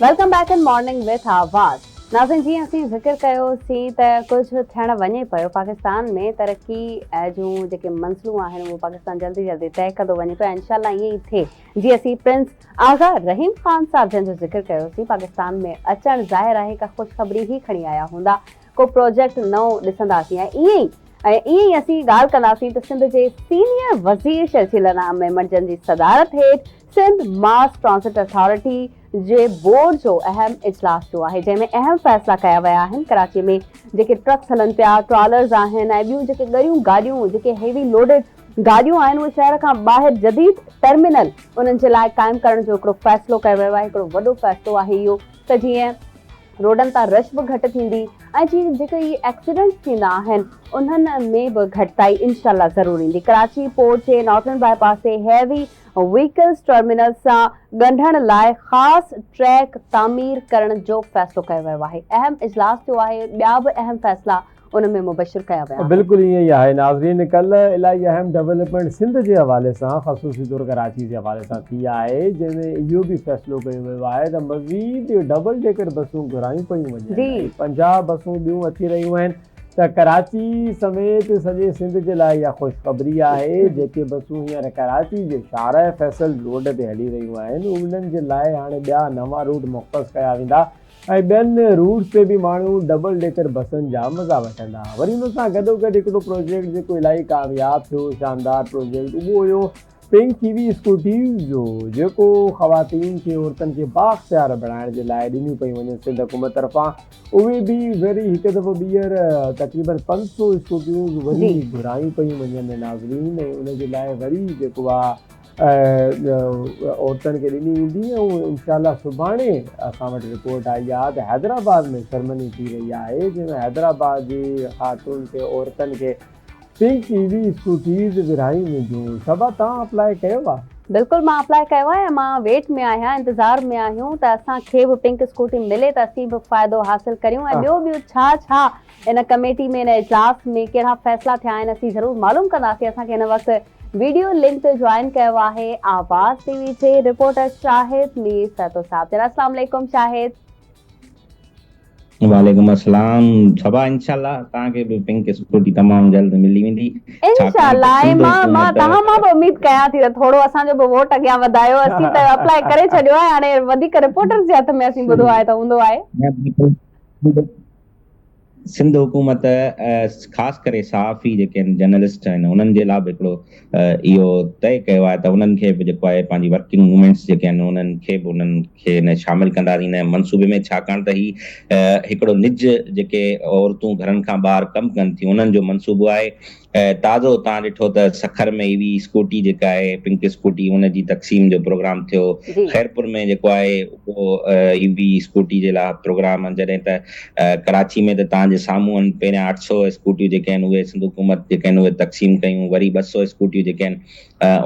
welcome back in morning with Awaz ناظرين جيئن اسين ذڪر ڪيو سين ته ڪجهه ٿيڻ وڃي پيو پاڪستان ۾ ترقي جون جيڪي منزلون آهن اهو پاڪستان جلدي جلدي طئي ڪندو وڃي پيو انشاء الله ائين ئي ٿئي جي اسين پرنس آغا رحيم خان صاحب جن جو ذڪر ڪيو سين پاڪستان ۾ اچڻ ظاهر آهي ڪا خوشخبري هي کڻي آيا هوندا ڪو پروجيڪٽ نئون ڏسنداسين ۽ ائين ئي ۽ ائين ئي اسين ڳالهه ڪنداسين ته سنڌ جي سينيئر وزير شرجيل انعام ميمڻ جن جي صدارت هيٺ سنڌ ماس ٽرانزٽ اٿارٽي جي بورڊ جو اهم اجلاس ٿيو آهي جنهن ۾ اهم فيصلا ڪيا ويا آهن ڪراچي ۾ جيڪي ٽرڪس هلن پيا ٽرالرز آهن ۽ ٻيون جيڪي ڳريون گاڏيون جيڪي هيوي لوڊيڊ گاڏيون آهن اهي شهر کان ٻاهر جديد ٽرمينل انهن جي لاء قائم ڪرڻ جو هڪڙو فيصلو ڪيو ويو آهي هڪڙو وڏو فيصلو آهي اهو ته جيئن روڊن تان رش به گهٽ ٿيندي ۽ جي جيڪي هي ايڪسيڊنٽس ٿيندا آهن انهن ۾ به گهٽتائي انشاء الله ضرور ايندي ڪراچي پورٽ جي نارٿرن باء پاس تي هيوي ويهڪلز ٽرمينل سان ڳنڍڻ لاء خاص ٽريڪ تعمير ڪرڻ جو فيصلو ڪيو ويو آهي، اهم اجلاس ٿيو آهي، ٻيا به اهم فيصلا ان ۾ مبشر ڪيا ويا آهن. بلڪل ائين ئي آهي ناظرين ڪلهه الائي اهم ڊولپمينٽ سنڌ جي حوالي سان خصوصي طور ڪراچي جي حوالي سان ٿي آهي جنهن ۾ اهو به فيصلو ڪيو ويو آهي ته مزيد ڊبل ڊيڪر بسون گهرايون پيون وڃن ۽ پنجاهه بسون ٻيون اچي رهيون آهن ته ڪراچي سميت سڄي سنڌ جي لاء اها خوشخبري آهي، جيڪي بسون هينئر ڪراچي جي شاهراهه فيصل روڊ تي هلي رهيون آهن، انهن جي لاء هاڻي ٻيا نوان روٽ مختص ڪيا ويندا ۽ ٻين روٽس تي به ماڻهو ڊبل ڊيڪر بسن جا مزا وٺندا. وري ان سان گڏوگڏ هڪڙو پروجيڪٽ جيڪو الائي ڪامياب ٿيو، شاندار پروجيڪٽ، اهو هيو پنڪ اي وي اسڪوٽيز جو جيڪو خواتين کي عورتن کي بااختيار بڻائڻ جي لاء ڏنيون پيون وڃن سنڌ حڪومت طرفان اهي به وري هڪ دفعو ٻيهر تقريبن پنج سو اسڪوٽيون وري گهرايون پيون وڃن ناظرين ۽ ان جي لاء وري جيڪو آهي عورتن کي ڏني ويندي ۽ انشاء الله سڀاڻي اسان وٽ رپورٽ آئي آهي ته حيدرآباد ۾ سرمني ٿي رهي آهي جنهن ۾ حيدرآباد جي خاتون کي عورتن کي پنڪ اي وي اسڪوٽيز ورهائي وينديون صبا توهان اپلاء ڪيو آ. بلڪل مان اپلاء ڪيو آهي ۽ مان ويٽ ۾ آهيان انتظار ۾ آهيون ته اسان کي به پنڪ اسڪوٽي ملي ته اسين به فائدو حاصل ڪريون ۽ ٻيو ٻيو ڇا ڇا ان ڪميٽي ۾ ان اجلاس ۾ ڪهڙا فيصلا ٿيا آهن اسين ضرور معلوم ڪنداسين اسان کي هن وقت ويڊيو لنڪ تي جوائن ڪيو آهي آواز ٽي وي جي رپورٽر شاهد مير سهتو صاحب جناب اسلام عليڪم شاهد. وعليڪم السلام صبا انشاء الله تهان کي به پنڪ اسڪوٽي تمام جلد ملي ويندي انشاء ڇاڪاڻ ته الله ۽ سنڌ مان مان حڪومت تهان مان به اميد ڪيان ٿي ته ٿورو اسان جو به ووٽ اڳيان وڌايو اسين ته اپلائي ڪري ڇڏيو آهي هاڻي وڌيڪ رپورٽرز جي هٿ ۾ اسين ٻڌو آهي ته هوندو آهي سنڌ حڪومت خاص ڪري صحافي جيڪي آهن جرنلسٽ آهن انهن جي لا به هڪڙو اهو طئي ڪيو آهي ته انهن کي به جيڪو آهي پنهنجي ورڪنگ موومينٽس جيڪي آهن انهن کي به انهن کي ان شامل ڪنداسين ان منصوبي ۾ ڇاڪاڻ ته هي هڪڙو نج جيڪي عورتون گهرن کان ٻاهر ڪم ڪن ٿيون انهن جو منصوبو آهي تازو تان ڏٺو ته سکر ۾ اي وي اسڪوٽي جيڪا آهي پنڪ اسڪوٽي ان جي تقسيم جو پروگرام ٿيو خيرپور ۾ جيڪو آهي اهو اي وي اسڪوٽي جي لاء پروگرام جڏهن ته ڪراچي ۾ ته توهان جي سامهون آهن، پهريان اٺ سؤ اسڪوٽيون جيڪي آهن اهي سنڌ حڪومت جيڪي آهن اهي تقسيم ڪيون، وري ٻه سؤ اسڪوٽيون جيڪي آهن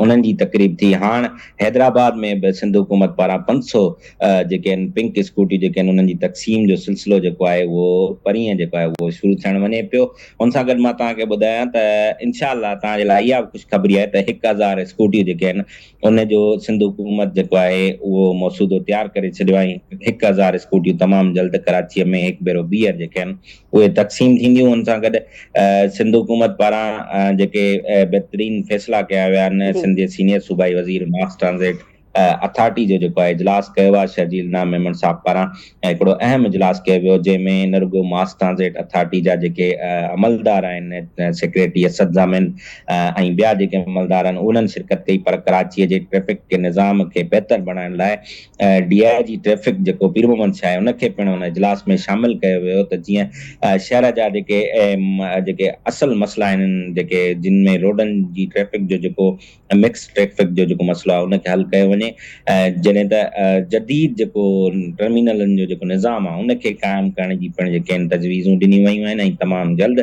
انهن جي تقريب ٿي، هاڻ حيدرآباد ۾ به سنڌ حڪومت پاران پنج سؤ جيڪي آهن پنڪ اسڪوٽيون جيڪي آهن انهن جي تقسيم جو سلسلو جيڪو آهي اهو پرينء جيڪو آهي اهو شروع ٿيڻ وڃي پيو، ان سان گڏ مان توهان کي ٻڌايان ته انشاء الله توهان جي لاء اها به خوشخبري آهي ته هڪ هزار اسڪوٽيون جيڪي آهن ان جو سنڌ حڪومت جيڪو آهي اهو مسودو تيار ڪري ڇڏيو آهي ۽ هڪ هزار اسڪوٽيون تمام جلد ڪراچيء ۾ هڪ ڀيرو ٻيهر جيڪي آهن اهي تقسيم ٿينديون ان سان گڏ سنڌ حڪومت پاران جيڪي بهترين فيصلا ڪيا ويا آهن سنڌ جي سينيئر صوبائي وزير ماس ٽرانزٽ اٿارٽي جو جيڪو آهي اجلاس ڪيو آهي شرجيل نام ميمڻ صاحب پاران ۽ هڪڙو اهم اجلاس ڪيو ويو جنهن ۾ نه رڳو ماس ٽرانزٽ اٿارٽي جا جيڪي عملدار آهن سيڪريٽري اسد ضامن ۽ ٻيا جيڪي عملدار آهن انهن شرڪت ڪئي پر ڪراچي جي ٽريفڪ جي نظام کي بهتر بڻائڻ لاء ڊي آء جي ٽريفڪ جيڪو پير محمد شاهه ان کي پڻ ان اجلاس ۾ شامل ڪيو ويو ته جيئن شهر جا جيڪي جيڪي اصل مسئلا آهن جيڪي جن ۾ روڊن جي ٽريفڪ جو جيڪو ۽ مڪس ٽريفڪ جو جيڪو مسئلو آهي ان کي حل ڪيو وڃي ۽ جڏهن ته جديد جيڪو ٽرمينلن جو جيڪو نظام آهي ان کي قائم ڪرڻ جي پڻ جيڪي تجويزون ڏنيون ويون آهن ۽ تمام جلد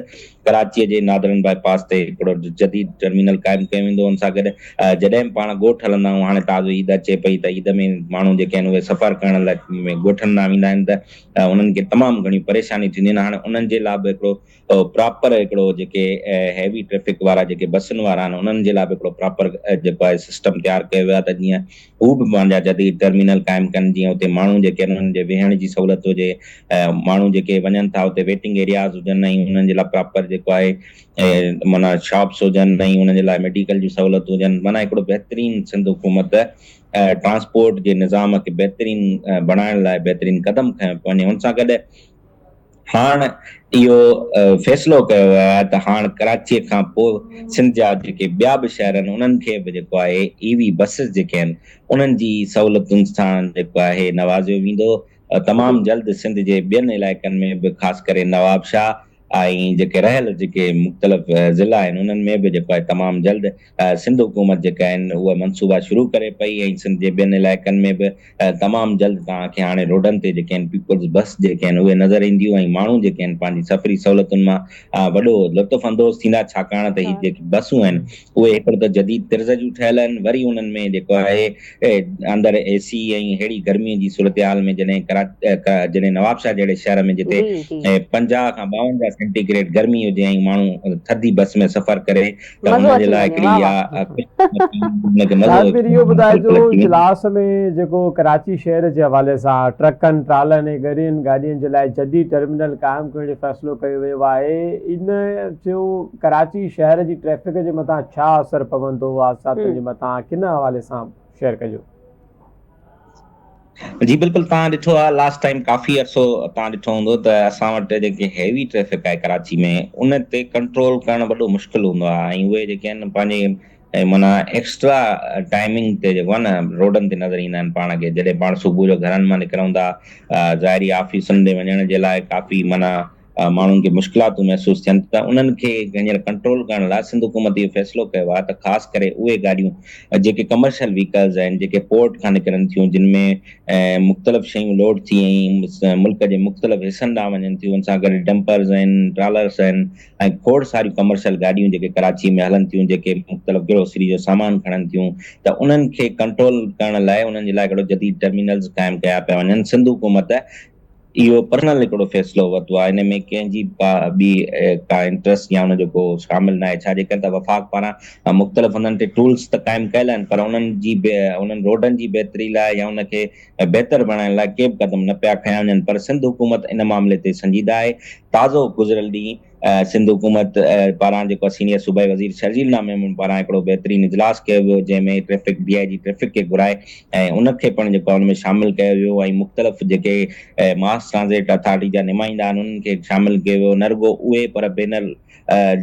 ڪراچي جي نادرن باء پاس تي هڪڙو جديد ٽرمينل قائم ڪيو ويندو ان سان گڏ جڏهن به پاڻ ڳوٺ هلندا آهيون هاڻي تازو عيد اچي پئي ته عيد ۾ ماڻهو جيڪي آهن اهي سفر ڪرڻ لاء ڳوٺن ڏانهن ويندا آهن ته انهن کي تمام گهڻيون پريشانيون ٿينديون آهن هاڻي انهن جي لاء به هڪڙو پراپر هڪڙو جيڪي هيوي ٽريفڪ وارا جيڪي بسن وارا آهن انهن جي لاء به هڪڙو پراپر جيڪو آهي سسٽم تيار ڪيو ويو آهي ته جيئن هو به پنهنجا جديد ٽرمينل قائم ڪن جيئن اتي ماڻهو جيڪي آهن انهن جي ويهڻ جي سهولت هجي ماڻهو جيڪي وڃن ٿا اتي ويٽنگ ايرياز هجن ۽ انهن جي لاء پراپر جيڪو آهي معنيٰ شاپس هجن ۽ انهن جي لاء ميڊيڪل جون سهولتون هجن معنيٰ هڪڙو بهترين سنڌ حڪومت ٽرانسپورٽ جي نظام کي بهترين بڻائڻ لاء بهترين قدم کنيو پيو وڃي ان سان گڏ هاڻ اهو فيصلو ڪيو ويو آهي ته هاڻ ڪراچيء کان پوء سنڌ جا جيڪي ٻيا به شهر آهن انهن کي به جيڪو آهي اي وي بسز جيڪي آهن انهن جي سهولتن سان جيڪو آهي نوازيو ويندو تمام جلد سنڌ جي ٻين علائقن ۾ به خاص ڪري نوابشاهه ۽ جيڪي رهيل جيڪي مختلف ضلعا آهن انهن ۾ به جيڪو آهي تمام جلد سنڌ حڪومت جيڪا آهن اهي منصوبا شروع ڪري پئي ۽ سنڌ جي ٻين علائقن ۾ به تمام جلد توهان کي هاڻي روڊن تي جيڪي آهن پيپلز بس جيڪي آهن اهي نظر اينديون ۽ ماڻهو جيڪي آهن پنهنجي سفري سهولتن مان وڏو لطف اندوز ٿيندا ڇاڪاڻ ته هي جيڪي بسون آهن اهي هڪڙو ته جديد طرز جون ٺهيل آهن وري انهن ۾ جيڪو آهي اندر اي سي ۽ ههڙي گرمي جي صورتحال ۾ جڏهن جڏهن نوابشاهه جهڙي شهر ۾ جتي پنجاهه کان ٻاونجاهه سينٽي گريڊ گرمي هجي ۽ ماڻهو ٿڌي بس ۾ سفر ڪري مزو اچي وڃي واھ واھ ساعد مير اهو ٻڌائجو اجلاس ۾ جيڪو ڪراچي شهر جي حوالي سان ٽرڪن ٽرالن ۽ ڳرين گاڏين جي لاء جديد ٽرمينل قائم ڪرڻ جو فيصلو ڪيو ويو آهي ان جو ڪراچي شهر جي ٽريفڪ جي مٿان ڇا اثر پوندو حادثاتن جي مٿان ڪن حوالي سان شيئر ڪجو. جي بلڪل توهان ڏٺو آ لاسٽ ٽائيم ڪافي عرصو توهان ڏٺو هوندو ته اسان وٽ جيڪي هيوي ٽريفڪ آهي ڪراچي ۾ ان تي ڪنٽرول ڪرڻ وڏو مشڪل هوندو آهي ۽ اهي جيڪي آهن پنهنجي معنيٰ ايڪسٽرا ٽائيمنگ تي جيڪو آهي نه روڊن تي نظر ايندا آهن پاڻ کي جڏهن پاڻ صبح جو گهرن مان نڪرون ٿا ظاهري آفيسن تي وڃڻ جي لاء ڪافي معنيٰ ماڻهن کي مشڪلاتون محسوس ٿين ته انهن کي هينئر ڪنٽرول ڪرڻ لاء سنڌ حڪومت اهو فيصلو ڪيو آهي ته خاص ڪري اهي گاڏيون جيڪي ڪمرشل ويهڪلز آهن جيڪي پورٽ کان نڪرن ٿيون جن ۾ مختلف شيون لوڊ ٿي ۽ ملڪ جي مختلف حصن ڏانهن وڃن ٿيون ان سان گڏ ڊمپرز آهن ٽرالرس آهن ۽ کوڙ ساريون ڪمرشل گاڏيون جيڪي ڪراچي ۾ هلن ٿيون جيڪي مختلف گروسري جو سامان کڻن ٿيون ته انهن کي ڪنٽرول ڪرڻ لاء انهن جي لاء هڪڙو جديد ٽرمينلز قائم ڪيا پيا وڃن سنڌ حڪومت اهو پرنل هڪڙو فيصلو ورتو آهي ان ۾ ڪنهن جي ڪا ٻي ڪا انٽرسٽ يا ان جو ڪو شامل ناهي ڇا جي ڪري ته وفاق پاران مختلف انهن تي ٽولز ته قائم ڪيل آهن پر انهن جي انهن روڊن جي بهتري لاء يا ان کي بهتر بڻائڻ لاء ڪي به قدم نه پيا کنيا وڃن پر سنڌ حڪومت ان معاملي تي سنجيده آهي تازو گذريل ڏينهن سنڌ حڪومت پاران جيڪو آهي سينيئر صوبائي وزير شرجيل نامه ميمڻ پاران هڪڙو بهترين اجلاس ڪيو ويو جنهن ۾ traffic D I G traffic کي گهرائي ۽ ان کي پڻ جيڪو آهي ان ۾ شامل ڪيو ويو ۽ مختلف جيڪي ماس ٽرانزيٽ اٿارٽي جا نمائندا آهن انهن کي شامل ڪيو ويو نه رڳو اهي پر بين ال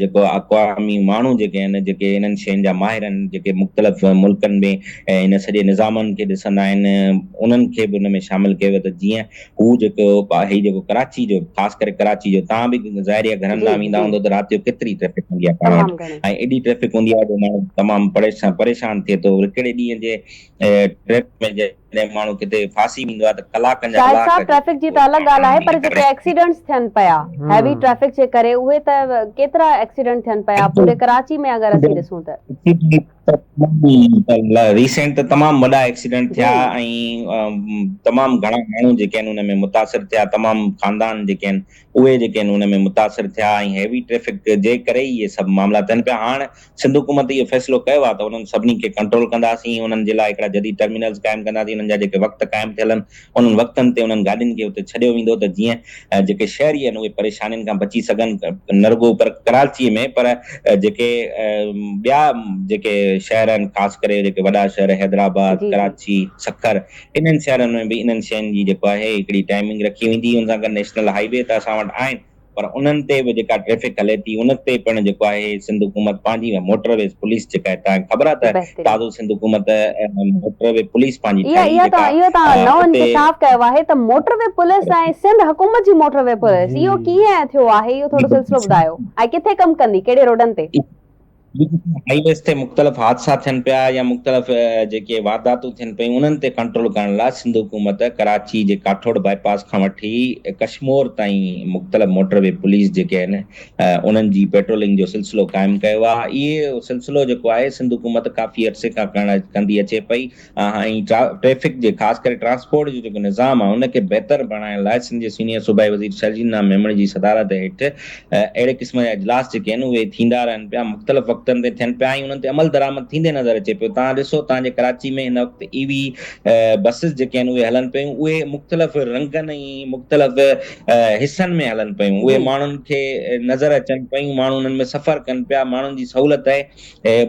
جيڪو اقوامي ماڻهو جيڪي آهن جيڪي انهن شين جا ماهر آهن جيڪي مختلف ملڪن ۾ ان سڄي نظامن کي ڏسندا آهن انهن کي به ان ۾ شامل ڪيو ويو ته جيئن هو جيڪو هي جيڪو ڪراچي جو خاص ڪري ڪراچي جو تان به ظاهري آهي گهرن ڏانهن ويندا هوندو ته رات جو ڪيتري ٽريفڪ هوندي آهي پاڻ وٽ ۽ ايڏي ٽريفڪ هوندي آهي جو ماڻهو تمام پريشان ٿئي ٿو هڪڙي ڏينهن جي ٽريفڪ ۾ جڏهن ماڻهو ڪٿي ڦاسي ويندو آهي ته ڪلاڪن جا ڪلاڪ شاهد صاحب ٽريفڪ جي ته الڳ ڳالهه آهي پر جيڪي ايڪسيڊنٽس ٿين پيا هيوي ٽريفڪ جي ڪري اهي ته ڪيترا ايڪسيڊنٽ ٿين پيا پوري ڪراچي ۾ اگر اسين ڏسون ته ريسينٽ ته تمام وڏا ايڪسيڊنٽ ٿيا ۽ تمام گهڻا ماڻهو جيڪي آهن ان ۾ متاثر ٿيا تمام خاندان جيڪي آهن اهي جيڪي آهن ان ۾ متاثر ٿيا ۽ هيوي ٽريفڪ جي ڪري ئي اهي سڀ معاملا ٿين پيا هاڻ سنڌ حڪومت اهو فيصلو ڪيو آهي ته انهن سڀني کي ڪنٽرول ڪنداسين انهن جي لاء هڪڙا جديد ٽرمينلز قائم ڪنداسين انهن جا جيڪي وقت قائم ٿيل آهن انهن وقتن تي انهن گاڏين کي اتي ڇڏيو ويندو ته جيئن جيڪي شهري آهن اهي پريشانين کان بچي سگهن نه رڳو پر ڪراچي ۾ پر جيڪي ٻيا جيڪي شهر آهن خاص ڪري جيڪي وڏا شهر حيدرآباد، ڪراچي، سکر انهن شهرن ۾ به انهن شين جي جيڪو آهي هڪڙي ٽائمنگ رکي ويندي ان سان گڏ نيشنل هاء وي ته اسان وٽ آهن پر انهن تي به جيڪا ٽريفڪ هلي ٿي ان تي پڻ جيڪو آهي سنڌ حڪومت پنهنجي ۽ موٽر ويز پوليس جيڪا هي توهان کي خبر آهي ته بهترين. تازو سنڌ حڪومت موٽر وي پوليس پنهنجي اها ٺاهي اها جيڪا توهان اهو توهان نئون اتي انڪشاف ڪيو آهي ته موٽر وي پوليس ۽ سنڌ حڪومت جي موٽر وي پوليس اهو ڪيئن ٿيو آهي اهو ٿورو سلسلو ٻڌايو ۽ ڪٿي ڪم ڪندي ڪهڙي روڊن تي. هاء ويز تي مختلف حادثا ٿين پيا يا مختلف جيڪي وارداتون ٿين پيون انهن تي ڪنٽرول ڪرڻ لاء سنڌ حڪومت ڪراچي جي ڪاٺوڙ باء پاس کان وٺي ڪشمور تائين مختلف موٽر وي پوليس جيڪي آهن انهن جي پيٽرولنگ جو سلسلو قائم ڪيو آهي اهي سلسلو جيڪو آهي سنڌ حڪومت ڪافي عرصي کان ڪرڻ ڪندي اچي پئي ۽ ٽريفڪ جي خاص ڪري ٽرانسپورٽ جو جيڪو نظام آهي ان کي بهتر بڻائڻ لاء سنڌ جي سينيئر صوبائي وزير شرجيل نام ميمڻ جي صدارت هيٺ اهڙي قسم جا اجلاس جيڪي آهن اهي ٿيندا رهن پيا مختلف وقتن تي ٿين پيا ۽ انهن تي عمل درآمد ٿيندي نظر اچي پيو توهان ڏسو توهان جي ڪراچي ۾ هن وقت اي وي بسز جيڪي آهن اهي هلن پيون اهي مختلف رنگن ۽ مختلف حصن ۾ هلن پيون اهي ماڻهن کي نظر اچن پيون ماڻهو انهن ۾ سفر ڪن پيا ماڻهن جي سهولت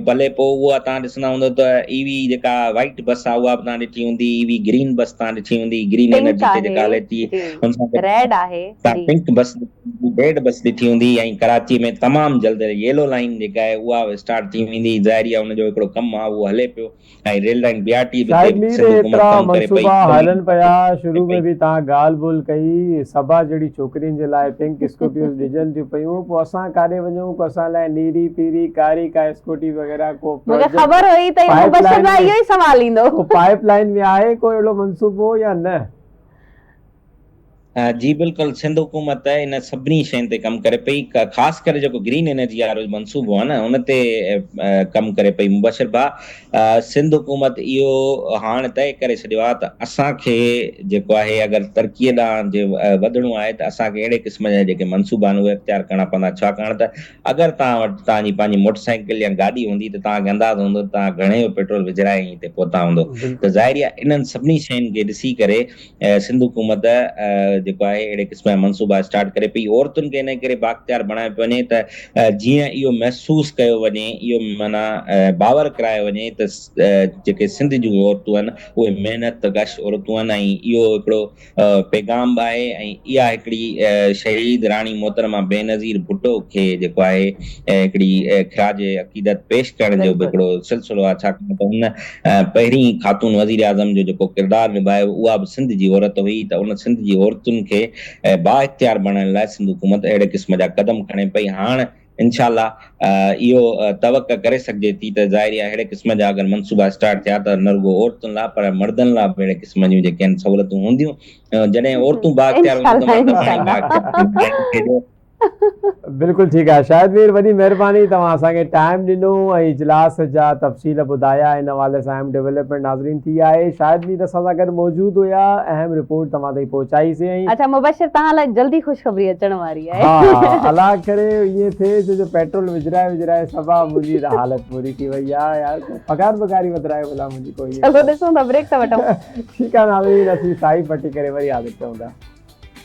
بلي پوء اها توهان ڏسندا هوندو ته اي وي جيڪا وائيٽ بس آهي اها به توهان ڏٺي هوندي، اي وي گرين بس توهان ڏٺي هوندي، گرين انرجي تي جيڪا هلي ٿي ان سان گڏ توهان پنڪ بس، ريڊ بس ڏٺي هوندي ۽ ڪراچي ۾ تمام جلد ييلو لائين جيڪا آهي اها اسٽارٽ ٿي ويندي، ظاهري آهي ان جو هڪڙو ڪم آهي اهو هلي پيو. ۽ Rail line B R T به تي به سنڌ حڪومت ڪم ڪري پئي. شاهد مير هيترا منصوبا هلن پيا، شروع ۾ به تان ڳالهه ٻولهه ڪئي، صبا جهڙي ڇوڪرين جي لاء پنڪ اسڪوٽيوز ڊڄن ٿيون پيون، پوء اسان ڪاڏي وڃون، ڪو اسان لاء نيري، پيري، ڪاري ڪا اسڪوٽي وغيره، ڪو پروجيڪٽ، پائيپ لائين ۾ ڪو پائيپ لائين ۾ آهي ڪو اهڙو منصوبو يا نه؟ جي بلڪل سنڌ حڪومت ان سڀني شين تي ڪم ڪري پئي خاص ڪري جيڪو گرين انرجي وارو منصوبو آ نه ان تي ڪم ڪري پئي مبشر ڀاء سنڌ حڪومت اهو هاڻ طئي ڪري ڇڏيو آ ته اسان کي جيڪو آهي اگر ترقي ڏانهن جي وڌڻو آهي ته اسان کي اهڙي قسم جا جيڪي منصوبا آهن اهي اختيار ڪرڻا پوندا ڇاڪاڻ ته اگر توهان وٽ توهان جي پنهنجي موٽر سائيڪل يا گاڏي هوندي ته توهان کي اندازو هوندو ته توهان گهڻي جو پيٽرول وجهرائي ۽ هتي پهتا هوندو ته ظاهري آ انهن سڀني شين کي ڏسي ڪري سنڌ حڪومت جيڪو آهي اهڙي قسم جا منصوبا اسٽارٽ ڪري پئي، عورتن کي انڪري بااختيار بڻايو پيو وڃي ته جيئن اهو محسوس ڪيو وڃي، اهو معنيٰ باور ڪرايو وڃي ته جيڪي سنڌ جون عورتون آهن اهي محنت ڪش عورتون آهن ۽ اهو هڪڙو پيغام به آهي ۽ اها هڪڙي شهيد راڻي محترمه بينظير ڀٽو کي جيڪو آهي هڪڙي خراج عقيدت پيش ڪرڻ جو به هڪڙو سلسلو آهي ڇاڪاڻ ته هن پهرين خاتون وزيراعظم جو جيڪو ڪردار نڀايو اها به سنڌ جي عورت هئي ته ان سنڌ جي عورتن کي بااختيار بڻائڻ لاء سنڌ حڪومت اهڙي قسم جا قدم کڻي پئي هاڻ انشاء الله اهو توقع ڪري سگهجي ٿي ته ظاهري آهي اهڙي قسم جا اگر منصوبا اسٽارٽ ٿيا ته نه رڳو عورتن لاء پر مردن لاء به اهڙي قسم جون جيڪي آهن سهولتون هونديون جڏهن عورتون بااختيار هونديون ته مرد پاڻ ئي بااختيار ٿيندو بلڪل ٺيڪ آهي شاهد مير وڏي مهرباني توهان اسان کي ٽائيم ڏنو ۽ اجلاس جا تفصيل ٻڌايا ان حوالي سان اهم ڊيولپمينٽ ناظرين ٿي آهي شاهد مير اسان سان گڏ موجود هيا اهم رپورٽ توهان تائين پهچائي سي ۽ اچا مبشر توهان لاء جلدي خوشخبري اچڻ واري آهي ها الا ڪري ائين ٿئي ڇو جو پيٽرول وجهرائي وجهرائي سبا منهنجي ته حالت پوري ٿي وئي آهي يار پگهار بگهاري وڌرايو ڀلا منهنجي ڪو ائين چلو ڏسون ٿا بريڪ ته وٺون ٺيڪ آهي ناظرين اسين سائي پٽي ڪري وري حاضر ٿيون ٿا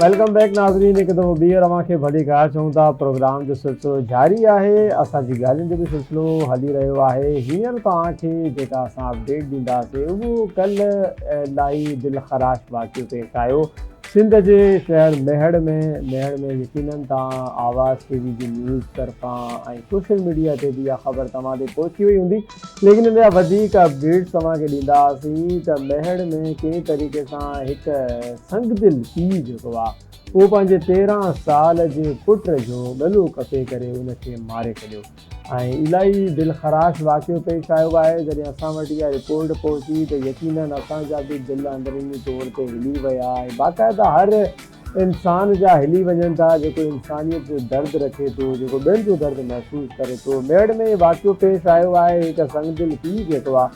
ويلڪم بيڪ ناظرين هڪ دفعو ٻيهر اوهان کي ڀلي خير چون ٿا پروگرام جو سلسلو جاري آهي اسان جي ڳالهين جو به سلسلو هلي رهيو آهي هينئر توهان کي جيڪا اسان اپڊيٽ ڏينداسين اهو ڪلهه الائي دل خراش واقعو پيش آيو سنڌ جي شهر ميهڙ ۾ ميهڙ ۾ يقينن تان آواز ٽي وي جي نيوز طرفان ۽ سوشل ميڊيا تي به اها خبر توهان تي پهچي وئي هوندي ليڪن ان جا وڌيڪ اپڊيٽس توهان کي ڏيندا هئاسين ته ميهڙ ۾ ڪنهن طريقي سان هڪ سنگدل پيء جيڪو آ اهو پنهنجي تيرهن سال جي پٽ جو ڳلو ڪپي ڪري ان کي ماري ڇڏيو ۽ الاهي دلخراش واقعو پيش آيو آهي، جڏهن اسان وٽ اها رپورٽ پهتي ته يقينن اسان جا به دل اندروني طور تي هلي ويا ۽ باقاعده هر انسان جا هلي وڃن ٿا جيڪو انسانيت جو درد رکي ٿو، جيڪو ٻين جو درد محسوس ڪري ٿو. ميڙ ۾ هي واقعو پيش آيو آهي، هي هڪ سنگدل پيء جيڪو آ.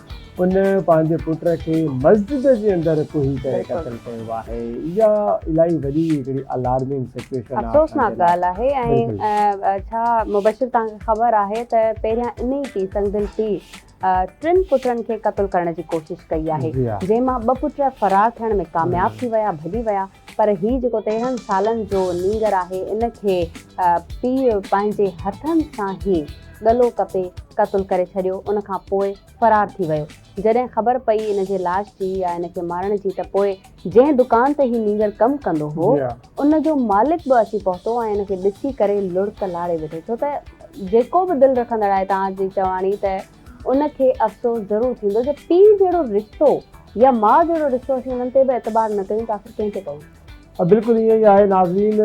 ان پنهنجي پٽ کي مسجد جي اندر ڪوهي ڪري قتل ڪيو آهي اها الاهي وڏي هڪڙي الارمنگ سچويشن آهي افسوسناڪ ڳالهه آهي ۽ ڇا مبشر توهان کي خبر آهي ته پهريان انهي پي سنگدل پي ٽن پٽن کي قتل ڪرڻ جي ڪوشش ڪئي آهي جنهن مان ٻه پٽ فرار ٿيڻ ۾ ڪامياب ٿي ويا ڀڄي ويا پر هي جيڪو تيرهن سالن جو نينگر آهي ان کي پي پنهنجي هٿن سان هي ڳلو ڪپي قتل ڪري ڇڏيو ان کان پوء فرار ٿي ويو. جڏهن خبر پئي ان جي لاش جي يا ان کي مارڻ جي ته پوء جنهن دڪان تي هي نينگر ڪم ڪندو هو ان جو مالڪ به اچي پهتو ۽ ان کي ڏسي ڪري لڙڪ لاڙي وڌي ڇو ته جيڪو به دل رکندڙ آهي تان جي چواڻي ته ان کي افسوس ضرور ٿيندو جو پيء جهڙو رشتو يا ماء جهڙو رشتو اسين انهن تي به اعتبار نه ڪيون ته آخر ڪنهن تي ڪيون. بلڪل ائين ئي آهي ناظرين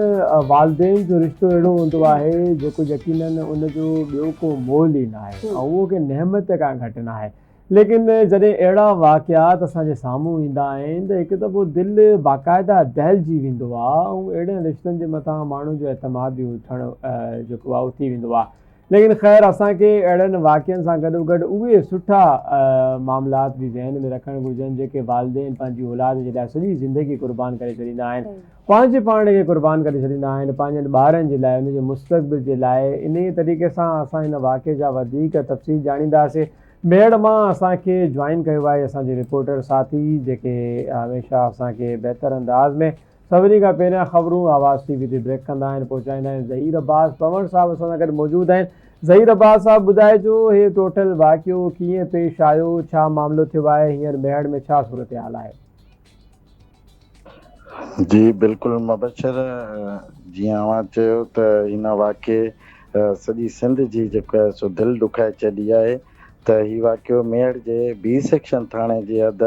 والدين جو رشتو اهڙو هوندو آهي جيڪو يقينن ان جو ٻيو ڪو مول ئي ناهي ۽ اهو ڪنهن نعمت کان گهٽ ناهي ليڪن جڏهن اهڙا واقعات اسان جي سامهون ايندا آهن ته هڪ دفعو دل باقاعده دهلجي ويندو آهي ۽ اهڙن رشتن جي مٿان ماڻهن جو اعتماد به اٺڻ جيڪو آهي اٿي ويندو آهي ليڪن خير اسان کي اهڙن واقعن سان گڏوگڏ اهي سٺا معاملات به ذهن ۾ رکڻ گهرجن جيڪي والدين پنهنجي اولاد جي لاء سڄي زندگي قربان ڪري ڇڏيندا آهن پنهنجي پاڻ کي قربان ڪري ڇڏيندا آهن پنهنجن ٻارن جي لاء ان جي مستقبل جي لاء انهي طريقي سان اسان هن واقعي جا وڌيڪ تفصيل ڄاڻينداسي ميڙ مان اسان کي جوائن ڪيو آهي اسان جي رپورٽر ساٿي جيڪي هميشه اسان کي بهتر انداز ۾ سڀني کان پهريان خبرون آواز ٽي وي تي بريڪ ڪندا آهن پهچائيندا آهن ظهير عباس پنوڻ صاحب اسان سان گڏ موجود آهن ظهير عباس صاحب ٻڌائجو هي ٽوٽل واقعو ڪيئن پيش آيو ڇا معاملو ٿيو آهي هينئر ميهڙ ۾ ڇا صورتحال آهي. جي بلڪل مبشر جيئن اوهان چيو ته ان واقعي سڄي سنڌ جي جيڪو آهي سو دل ڏکائي ڇڏي آهي ته هي واقعو ميهڙ جي بي سيڪشن ٿاڻي جي حد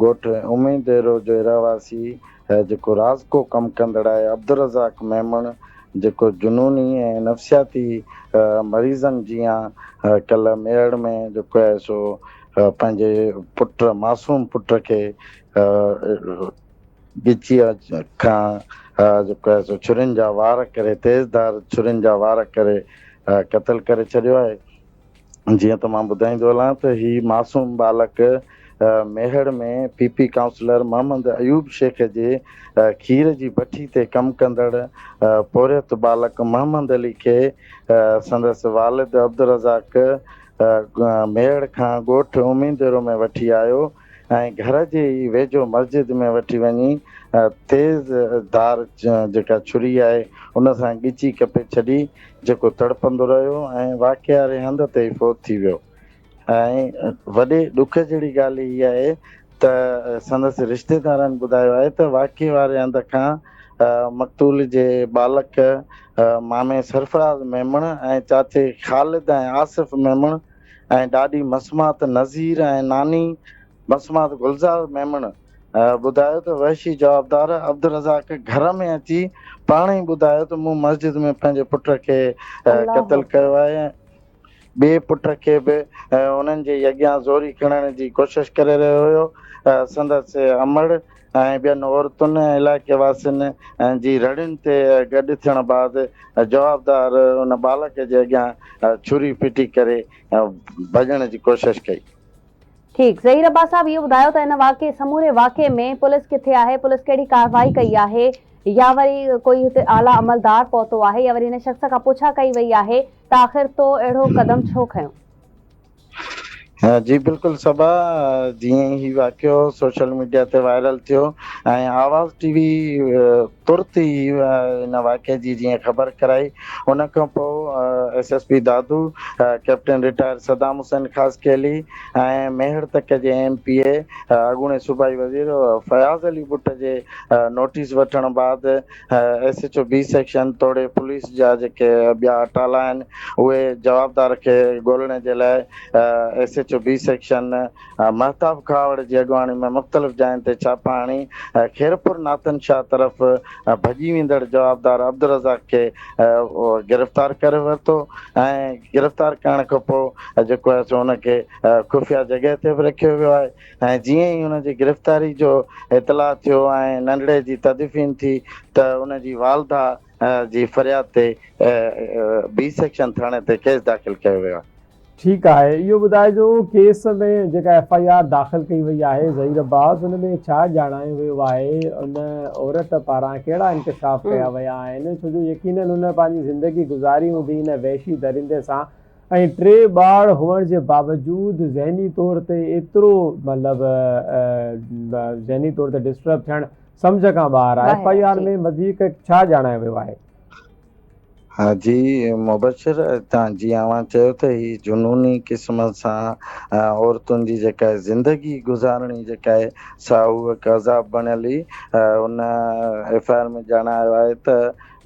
ڳوٺ امين ديرو جو رهواسي هي جيڪو راز ڪو ڪم ڪندڙ آهي عبدالرزاق ميمڻ جيڪو جنوني ۽ نفسياتي مريضن جيان ڪلهه ميهڙ ۾ جيڪو آهي سو پنهنجي پٽ معصوم پٽ کي ڳچيء کان جيڪو آهي سو ڇرين جا وار ڪري تيز ڌار ڇرين جا وار ڪري قتل ڪري ڇڏيو آهي. جيئن ته مان ٻڌائيندو هلان ته هي معصوم ٻالڪ Mehar ۾ P P councillor Muhammad Ayub Shaikh جي کير جي بٺي تي ڪم ڪندڙ پورهيت ٻالڪ محمد علي کي سندس والد عبدالرزاق ميهڙ کان ڳوٺ امينديرو ۾ وٺي آيو ۽ گهر جي ئي ويجهو مسجد ۾ وٺي وڃي تيز ڌار جيڪا ڇري آهي ان سان ڳچي ڪپي ڇڏي جيڪو تڙپندو رهيو ۽ واقعاري هنڌ تي ئي فوت ٿي ويو ۽ وڏي ڏک جهڙي ڳالهه هي آهي ته سندس رشتيدارن ٻڌايو آهي ته واقعي واري هنڌ کان مقتول جي ٻالڪ مامي سرفراز ميمڻ ۽ چاچي خالد ۽ آصف ميمڻ ۽ ڏاڏي مسمات نذير ۽ ناني مسمات گلزار ميمڻ ٻڌايو ته وحشي جوابدار عبدالرزاق گهر ۾ اچي پاڻ ئي ٻڌايو ته مون مسجد ۾ پنهنجي پٽ کي قتل ڪيو آهي ۽ ٻئي پٽ کي به انهن جي اڳيان زوري کڻڻ جي ڪوشش ڪري رهيو هيو سندس امڙ ۽ ٻين عورتن ۽ علائقي واسين جي رڙين تي گڏ ٿيڻ بعد جوابدار ان ٻالڪ جي اڳيان ڇري ڦٽي ڪري ڀڄڻ جي ڪوشش ڪئي. ٺيڪ ظهير عباس صاحب اهو ٻڌايو ته ان واقعي سموري واقعي ۾ پوليس ڪٿي آهي پوليس ڪهڙي ڪارروائي ڪئي آهي يا وري ڪوئي هتي اعليٰ عملدار پهتو آهي يا وري هن شخص کان پڇا ڪئي وئي آهي ته آخر تو اهڙو قدم ڇو کنيو. جي بلڪل صبا جيئن هي واقعو سوشل ميڊيا تي وائرل ٿيو ۽ آواز ٽي وي ترت ئي ان واقعي جي جيئن خبر ڪرائي ان کان پوء S S P Dadu captain retired Saddam Hussain خاص کيلي ۽ ميهڙ تڪ جي ايم پي اي اڳوڻي صوبائي وزير فياض علي بٽ جي نوٽيس وٺڻ بعد S H O B section توڙي پوليس جا جيڪي ٻيا اٽالا آهن اهي جوابدار کي ڳولڻي جي لاء S H O B section Mehtab Khuhawar جي اڳواڻي ۾ مختلف جاين تي ڇاپا هڻي خيرپور ناتن شاهه طرف ڀڄي ويندڙ جوابدار عبدالرزاق کي گرفتار ڪري ورتو ۽ گرفتار ڪرڻ کانپوء جيڪو آهي سو ان کي خفيه جڳهه تي به رکيو ويو آهي. ۽ جيئن ئي هن جي گرفتاري جو اطلاع ٿيو ۽ ننڍڙي جي تدفين ٿي ته ان جي والده جي فرياد تي بي سيڪشن ٿاڻي تي ڪيس داخل ڪيو ويو آهي. ٺيڪ آهي اهو ٻڌائجو ڪيس ۾ جيڪا ايف آء آر داخل ڪئي وئي آهي ظهير عباس ان ۾ ڇا ڄاڻايو ويو آهي ان عورت پاران ڪهڙا انڪشاف ڪيا ويا آهن ڇو جو يقينن هن پنهنجي زندگي گذاري هوندي ان وحشي درندي سان ۽ ٽي ٻار هئڻ جي باوجود ذهني طور تي ايترو مطلب ذهني طور تي ڊسٽرب ٿيڻ سمجهه کان ٻاهر آهي ايف آء آر ۾ وڌيڪ ڇا ڄاڻايو ويو آهي؟ ها جي مبشر تان جي اوهان چيو ته هي جنوني قسم سان عورتن جي جيڪا زندگي گذارڻي جيڪا آهي سا هو هڪ عذاب بڻيل هئي ان ايف آء آر ۾ ڄاڻايو آهي ته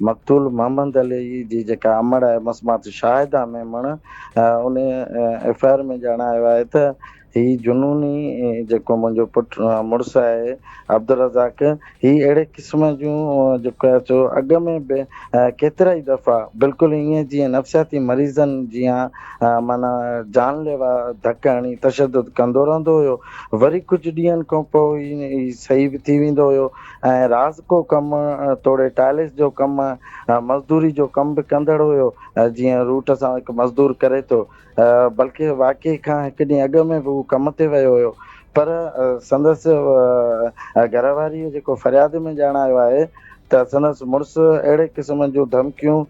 مقتول محمد علي جي جيڪا امڙ آهي مسمات شاهده ۾ مڻ ان ايف آء آر ۾ ڄاڻايو آهي ته هي جنوني جيڪو منهنجو پٽ مڙس آهي عبدالرزاق هي اهڙي قسم جون جيڪو آهي سو اڳ ۾ به ڪيترائي دفعا بلڪل ائين جيئن نفسياتي مريضن جيان معنيٰ جان ليوا ڌڪ هڻي تشدد ڪندو رهندو هيو وري ڪجهه ڏينهن کان پوء هي صحيح به ٿي ويندو هيو ۽ رازڪو ڪم توڙي ٽائلس جو ڪم ۽ مزدوري جو ڪم به ڪندڙ هيو جيئن روٽ سان هڪ مزدور ڪري ٿو بلڪ واقعي کان هڪ ڏينهن اڳ ۾ به هو ڪم تي ويو هيو پر سندس گهر واريء جيڪو فرياد ۾ ڄاڻ آيو آهي ته سندس مڙس اهڙي قسم جون ڌمڪيون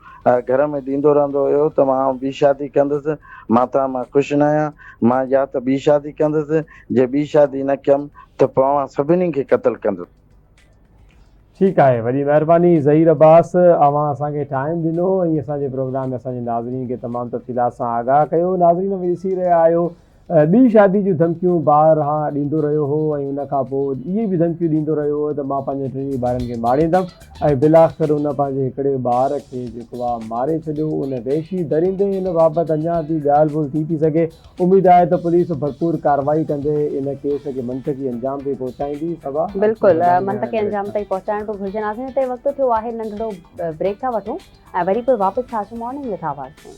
گهر ۾ ڏيندو رهندو هيو ته مان ٻي شادي ڪندس مان توهان مان خوش ناهيان مان يا ته ٻي شادي ڪندس جي ٻي شادي نه ڪيم ته پوء اوهان سڀني کي قتل ڪندس. ٺيڪ آهي وڏي مهرباني ظهير عباس اوهان اسان کي ٽائيم ڏنو ۽ اسان جي پروگرام ۾ اسان جي ناظرين کي تمام تفصيلات سان آگاهه ڪيو ناظرين اوهين ڏسي رهيا آهيو ٻي شادي جون ڌمڪيون بارها ڏيندو رهيو هو ۽ ان کان پوء اهي به ڌمڪيون ڏيندو رهيو هو ته مان پنهنجن ٽنهي ٻارن کي ماريندم ۽ بالاخر ان پنهنجي هڪڙي ٻار کي جيڪو آهي ماري ڇڏيو ان وحشي درندي ان بابت اڃا به ڳالهه ٻولهه ٿي ٿي سگهي اميد آهي ته پوليس ڀرپور ڪارروائي ڪندي ان ڪيس کي منطقي انجام تائين پهچائيندي صبا. بلڪل منطقي انجام تائين پهچائڻ به گهرجي ناظرين هتي وقت ٿيو آهي ننڍڙو بريڪ ٿا وٺون ۽ وري پوء واپس ٿا اچون مارننگ وٿ آواز ۾.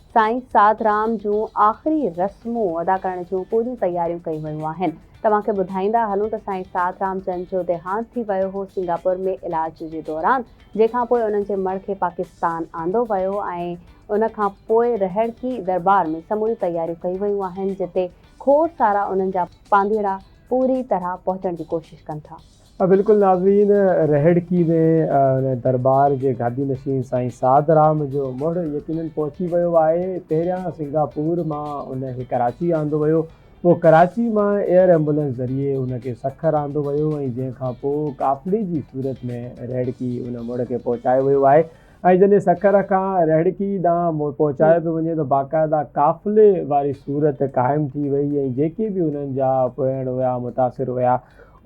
سائين ساڌ رام جون آخري رسمون ادا ڪرڻ جون پوريون تياريون ڪيون ويون آهن. توهان کي ٻڌائيندا هلون ته سائين ساڌ رام جن جو ديهانت ٿي ويو هو سنگاپور ۾ علاج جي دوران جنهن کان پوء انهن جي مڙهه کي پاڪستان آندو ويو ۽ ان کان پوء رهڙڪي درٻار ۾ سموريون تياريون ڪيون ويون آهن جتي کوڙ سارا انهن جا پانڌيئڙا پوري طرح پهچڻ جي ڪوشش ڪن ٿا. بلڪل ناظرين رهڙڪي ۾ ان درٻار جي گادي نشين سائين سعد رام جو مڙهه يقينن پهچي ويو آهي پهريان سنگاپور مان ان کي ڪراچي آندو ويو پوء ڪراچي مان ايئر ايمبولنس ذريعي ان کي سکر آندو ويو ۽ جنهن کان پوء قافلي جي صورت ۾ رهڙڪي ان مڙهه کي پهچايو ويو آهي ۽ جڏهن سکر کان رهڙڪي ڏانهن مڙهه پهچايو پيو وڃي ته باقاعده قافلي واري صورت قائم ٿي وئي ۽ جيڪي به انهن جا پوئڻ هيا متاثر هيا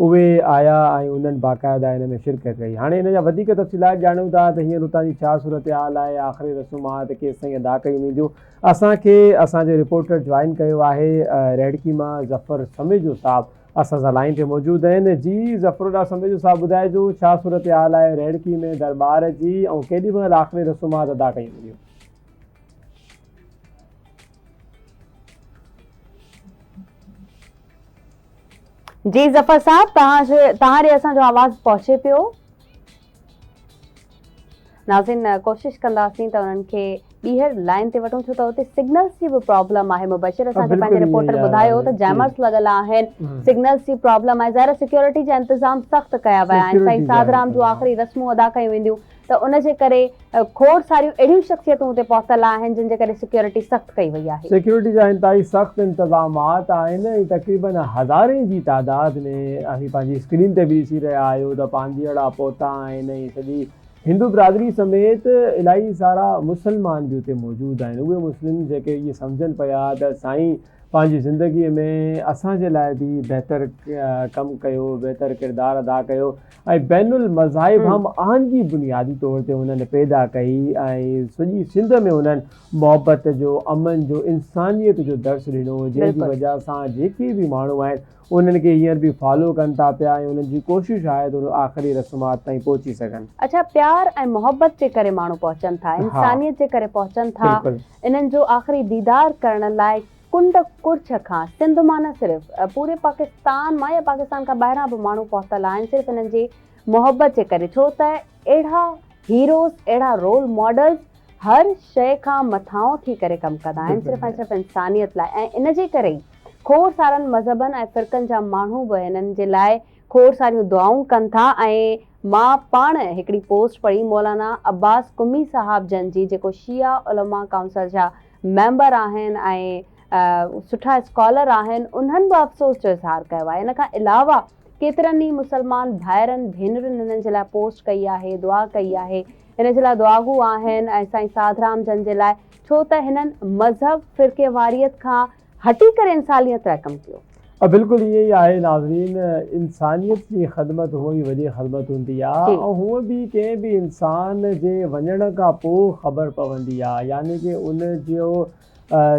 اهي آيا ۽ انهن باقاعده ان ۾ شرڪت ڪئي. هاڻي ان جا وڌيڪ تفصيلات ڄاڻيون ٿا ته هينئر اتان جي ڇا صورتحال آهي، آخري رسومات ڪيستائين ادا ڪيون وينديون. اسان کي اسان جو رپورٽر جوائن ڪيو آهي رهڙڪي مان ظفر سميجو صاحب اسان سان لائين تي موجود آهن. جي ظفرالله سميجو صاحب ٻڌائجو ڇا صورتحال آهي رهڙڪي ۾ درٻار جي ۽ ڪيڏي مهل آخري رسومات ادا ڪيون وينديون. جي ظفر صاحب توهان جي توهان ڏي اسان جو آواز پهچي پيو ناظرين ڪوشش ڪنداسين ته انهن کي ٻيهر لائن تي وٺون ڇو ته اتي سگنلز جي به پرابلم آهي مبشر اسان کي پنهنجي رپورٽر ٻڌايو ته جيمرز لڳل آهن سگنلز جي پرابلم آهي ظاهر سيڪيورٽي جا انتظام سخت ڪيا ويا آهن سائين ساڌرام جون آخري رسمون ادا ڪيون وينديون ته ان جي ڪري کوڙ ساريون اهڙيون شخصيتون اتي پهتل آهن جن جي ڪري سيڪيورٽي سخت ڪئي وئي آهي. سيڪيورٽي جا انتهائي سخت انتظامات آهن ۽ تقريباً هزارين جي تعداد ۾ اوهين پنهنجي اسڪرين تي به ڏسي رهيا آهيو ته پانڌيئڙا پهتا آهن ۽ سڄي هندو برادري سميت الاهي سارا مسلمان به اتي موجود آهن اهي مسلم جيڪي ائين سمجهن پيا ته سائين پنهنجي زندگي ۾ اسان جي لاء به بهتر ڪم ڪيو بهتر ڪردار ادا ڪيو ۽ بين المذاهب هم آهنگي بنيادي طور تي هنن پيدا ڪئي ۽ سڄي سنڌ ۾ هنن محبت جو، امن جو، انسانيت جو درس ڏنو، جنهن جي وجهه سان جيڪي به ماڻهو آهن، انهن کي هينئر به فالو ڪن ٿا پيا ۽ انهن جي ڪوشش آهي ته اهي آخري رسومات تائين پهچي سگهن. اڇا پيار ۽ محبت جي ڪري ماڻهو پهچن ٿا، انسانيت جي ڪري پهچن ٿا، انهن جو آخري ديدار ڪرڻ لاء ڪنڊ ڪڙڇ کان سنڌ مان نه صرف پوري پاڪستان مان يا پاڪستان کان ٻاهران به ماڻهو پهتل آهن صرف انهن جي محبت جي ڪري ڇو ته اهڙا هيروز اهڙا رول ماڊلز هر شئي کان مٿانهون ٿي ڪري ڪم ڪندا آهن صرف ۽ صرف انسانيت لاء ۽ ان جي ڪري ئي کوڙ سارن مذهبن ۽ فرقن جا ماڻهو به هنن جي لاء کوڙ ساريون دعائون ڪن ٿا ۽ مان پاڻ هڪڙي پوسٽ پڙهي مولانا عباس قمي صاحب جن جي جيڪو شيعه علماء ڪائونسل جا ميمبر آهن ۽ سٺا اسڪالر آهن انهن به افسوس جو اظهار ڪيو آهي ان کان علاوه ڪيترن ئي مسلمان ڀائرن ڀينرن هنن جي لاء پوسٽ ڪئي آهي دعا ڪئي آهي هن جي لاء دعاگو آهن ۽ سائين ساڌرام جن جي لاء ڇو ته هنن مذهب فرقيواريت کان هٽي ڪري انساليت لاء ڪم ڪيو. بلڪل ائين ئي آهي ناظرين انسانيت جي خدمت هونء ئي وڏي خدمت هوندي آ ۽ هونء به ڪنهن به انسان جي وڃڻ کان پوء خبر پوندي آ يعني ڪه ان جو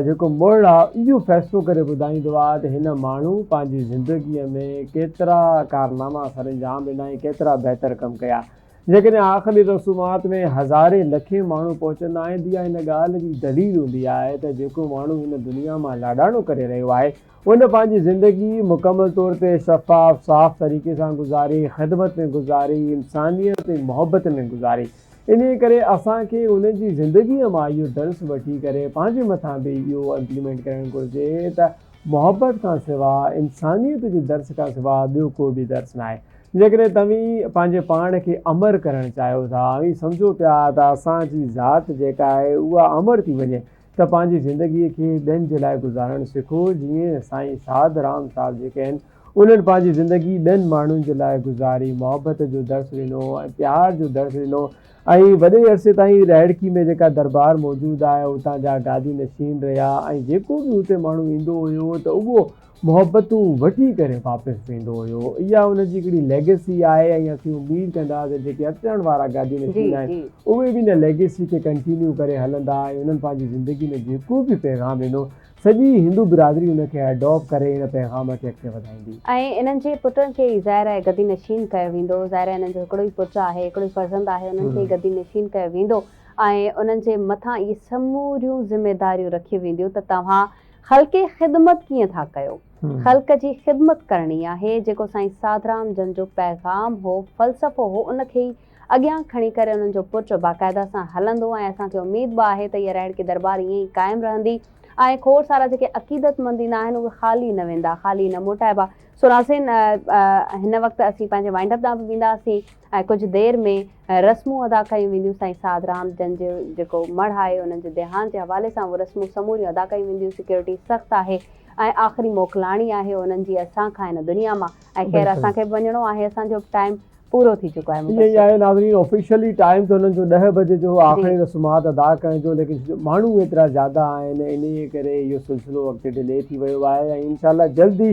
جيڪو مڙهه آ اهو فيصلو ڪري ٻڌائيندو آ ته هن ماڻهو پنهنجي زندگي ۾ ڪيترا ڪارناما سرانجام ڏنا ۽ ڪيترا بهتر ڪم ڪيا جيڪڏهن آخري رسومات ۾ هزارين لکين ماڻهو پهچندا آهن ته اها ان ڳالهه جي دليل هوندي آهي ته جيڪو ماڻهو هن دنيا مان لاڏاڻو ڪري رهيو آهي ان پنهنجي زندگي مڪمل طور تي شفاف صاف طريقي سان گذاري خدمت ۾ گذاري انسانيت ۽ محبت ۾ گذاري انهي ڪري اسان کي ان جي زندگي مان اهو درس وٺي ڪري پنهنجي مٿان به اهو امپليمينٽ ڪرڻ گهرجي ته محبت کان سواء، انسانيت جي درس کان سواء ٻيو ڪو به درس ناهي. جيڪڏهن توهين پنهنجي پاڻ کي امر ڪرڻ چاهيو ٿا، اوهين سمجهو پيا ته اسان جي ذات جيڪا آهي اها امر ٿي وڃي، ته پنهنجي زندگيء کي ٻين جي لاء گذارڻ سکو، جيئن سائين سعد رام صاحب جيڪي آهن، انهن پنهنجي زندگي ٻين ماڻهن جي لاء گذاري، محبت جو درس ڏنو ۽ پيار جو درس ڏنو. ۽ وڏي عرصي تائين رائڙڪي ۾ جيڪا دربار موجود آهي اتان جا گادي نشين رهيا ۽ جيڪو به اتي ماڻهو ايندو هيو ته اهو محبتون وٺي ڪري واپس ويندو هيو اها ان جي هڪڙي ليگسي آهي ۽ اسين اميد ڪندا ته جيڪي اچڻ وارا گادي نشين آهن اهي به ان ليگسي کي ڪنٽينيو ڪري هلندا ۽ انهن پنهنجي زندگي ۾ جيڪو به پيغام ڏنو سڄي هندو برادري ان کي اڊوب ڪري ان پيغام کي اڳتي وڌائيندي. ۽ انهن جي پٽن کي ئي ظاهر آهي گدي نشين ڪيو ويندو. ظاهر آهي انهن جو هڪڙو ئي پٽ آهي، هڪڙو ئي فرزند آهي، انهن کي ئي گدي نشين ڪيو ويندو ۽ انهن جي مٿان اهي سموريون ذميداريون رکيون وينديون ته توهان خلقي خدمت ڪيئن ٿا ڪيو؟ خلق جي خدمت ڪرڻي آهي. جيڪو سائين ساڌرام جن جو پيغام هو، فلسفو هو، ان کي ئي اڳيان کڻي ڪري انهن جو پرچو باقاعده سان هلندو ۽ اسان کي اميد به آهي ته هيء رهڙڪي درٻار ائين ئي قائم رهندي ۽ کوڙ سارا جيڪي عقيدتمند ايندا آهن اهي خالي نه ويندا، خالي نه موٽائبا. سو ناظرين هن وقت اسين پنهنجي وائنڊ اپ ڏانهن به وينداسين ۽ ڪجهه دير ۾ رسمون ادا ڪيون وينديون سائين سعد رام جن جو جيڪو مڙهه آهي انهن جي ديهانت جي حوالي سان اهي رسمون سموريون ادا ڪيون وينديون سيڪيورٽي سخت آهي ۽ آخري موڪلاڻي آهي انهن جي اسان کان هن دنيا مان ۽ خير اسان کي به وڃڻو آهي اسان جو به ٽائيم پورو ٿي چڪو آهي مبشر. ائين ئي آهي ناظرين آفيشلي ٽائيم ته هنن جو ڏهه بجي جو هو آخري رسومات ادا ڪرڻ جو ليڪن ماڻهو ايترا زياده آهن انهي ڪري اهو سلسلو اڳتي ڊلي ٿي ويو آهي ۽ انشاء الله جلد ئي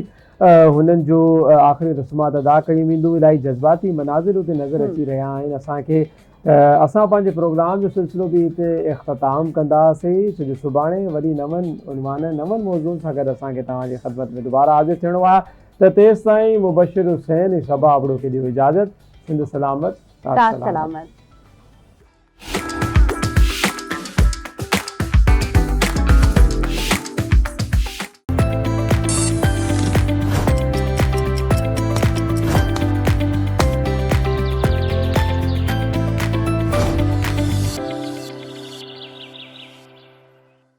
هنن جو آخري رسومات ادا ڪيون وينديون الاهي جذباتي مناظر اتي نظر اچي رهيا آهن اسان کي اسان پنهنجي پروگرام جو سلسلو به هتي اختتام ڪندا سين ڇو جو سڀاڻي وري نون عنوان نون موضوعن سان گڏ اسان کي توهان جي خدمت ۾ دوباره حاضر ٿيڻو آهي ته تيستائين مبشر حسين ۽ صبا ابڙو کي ڏيو اجازت. سنڌ سلامت، تات سلامت.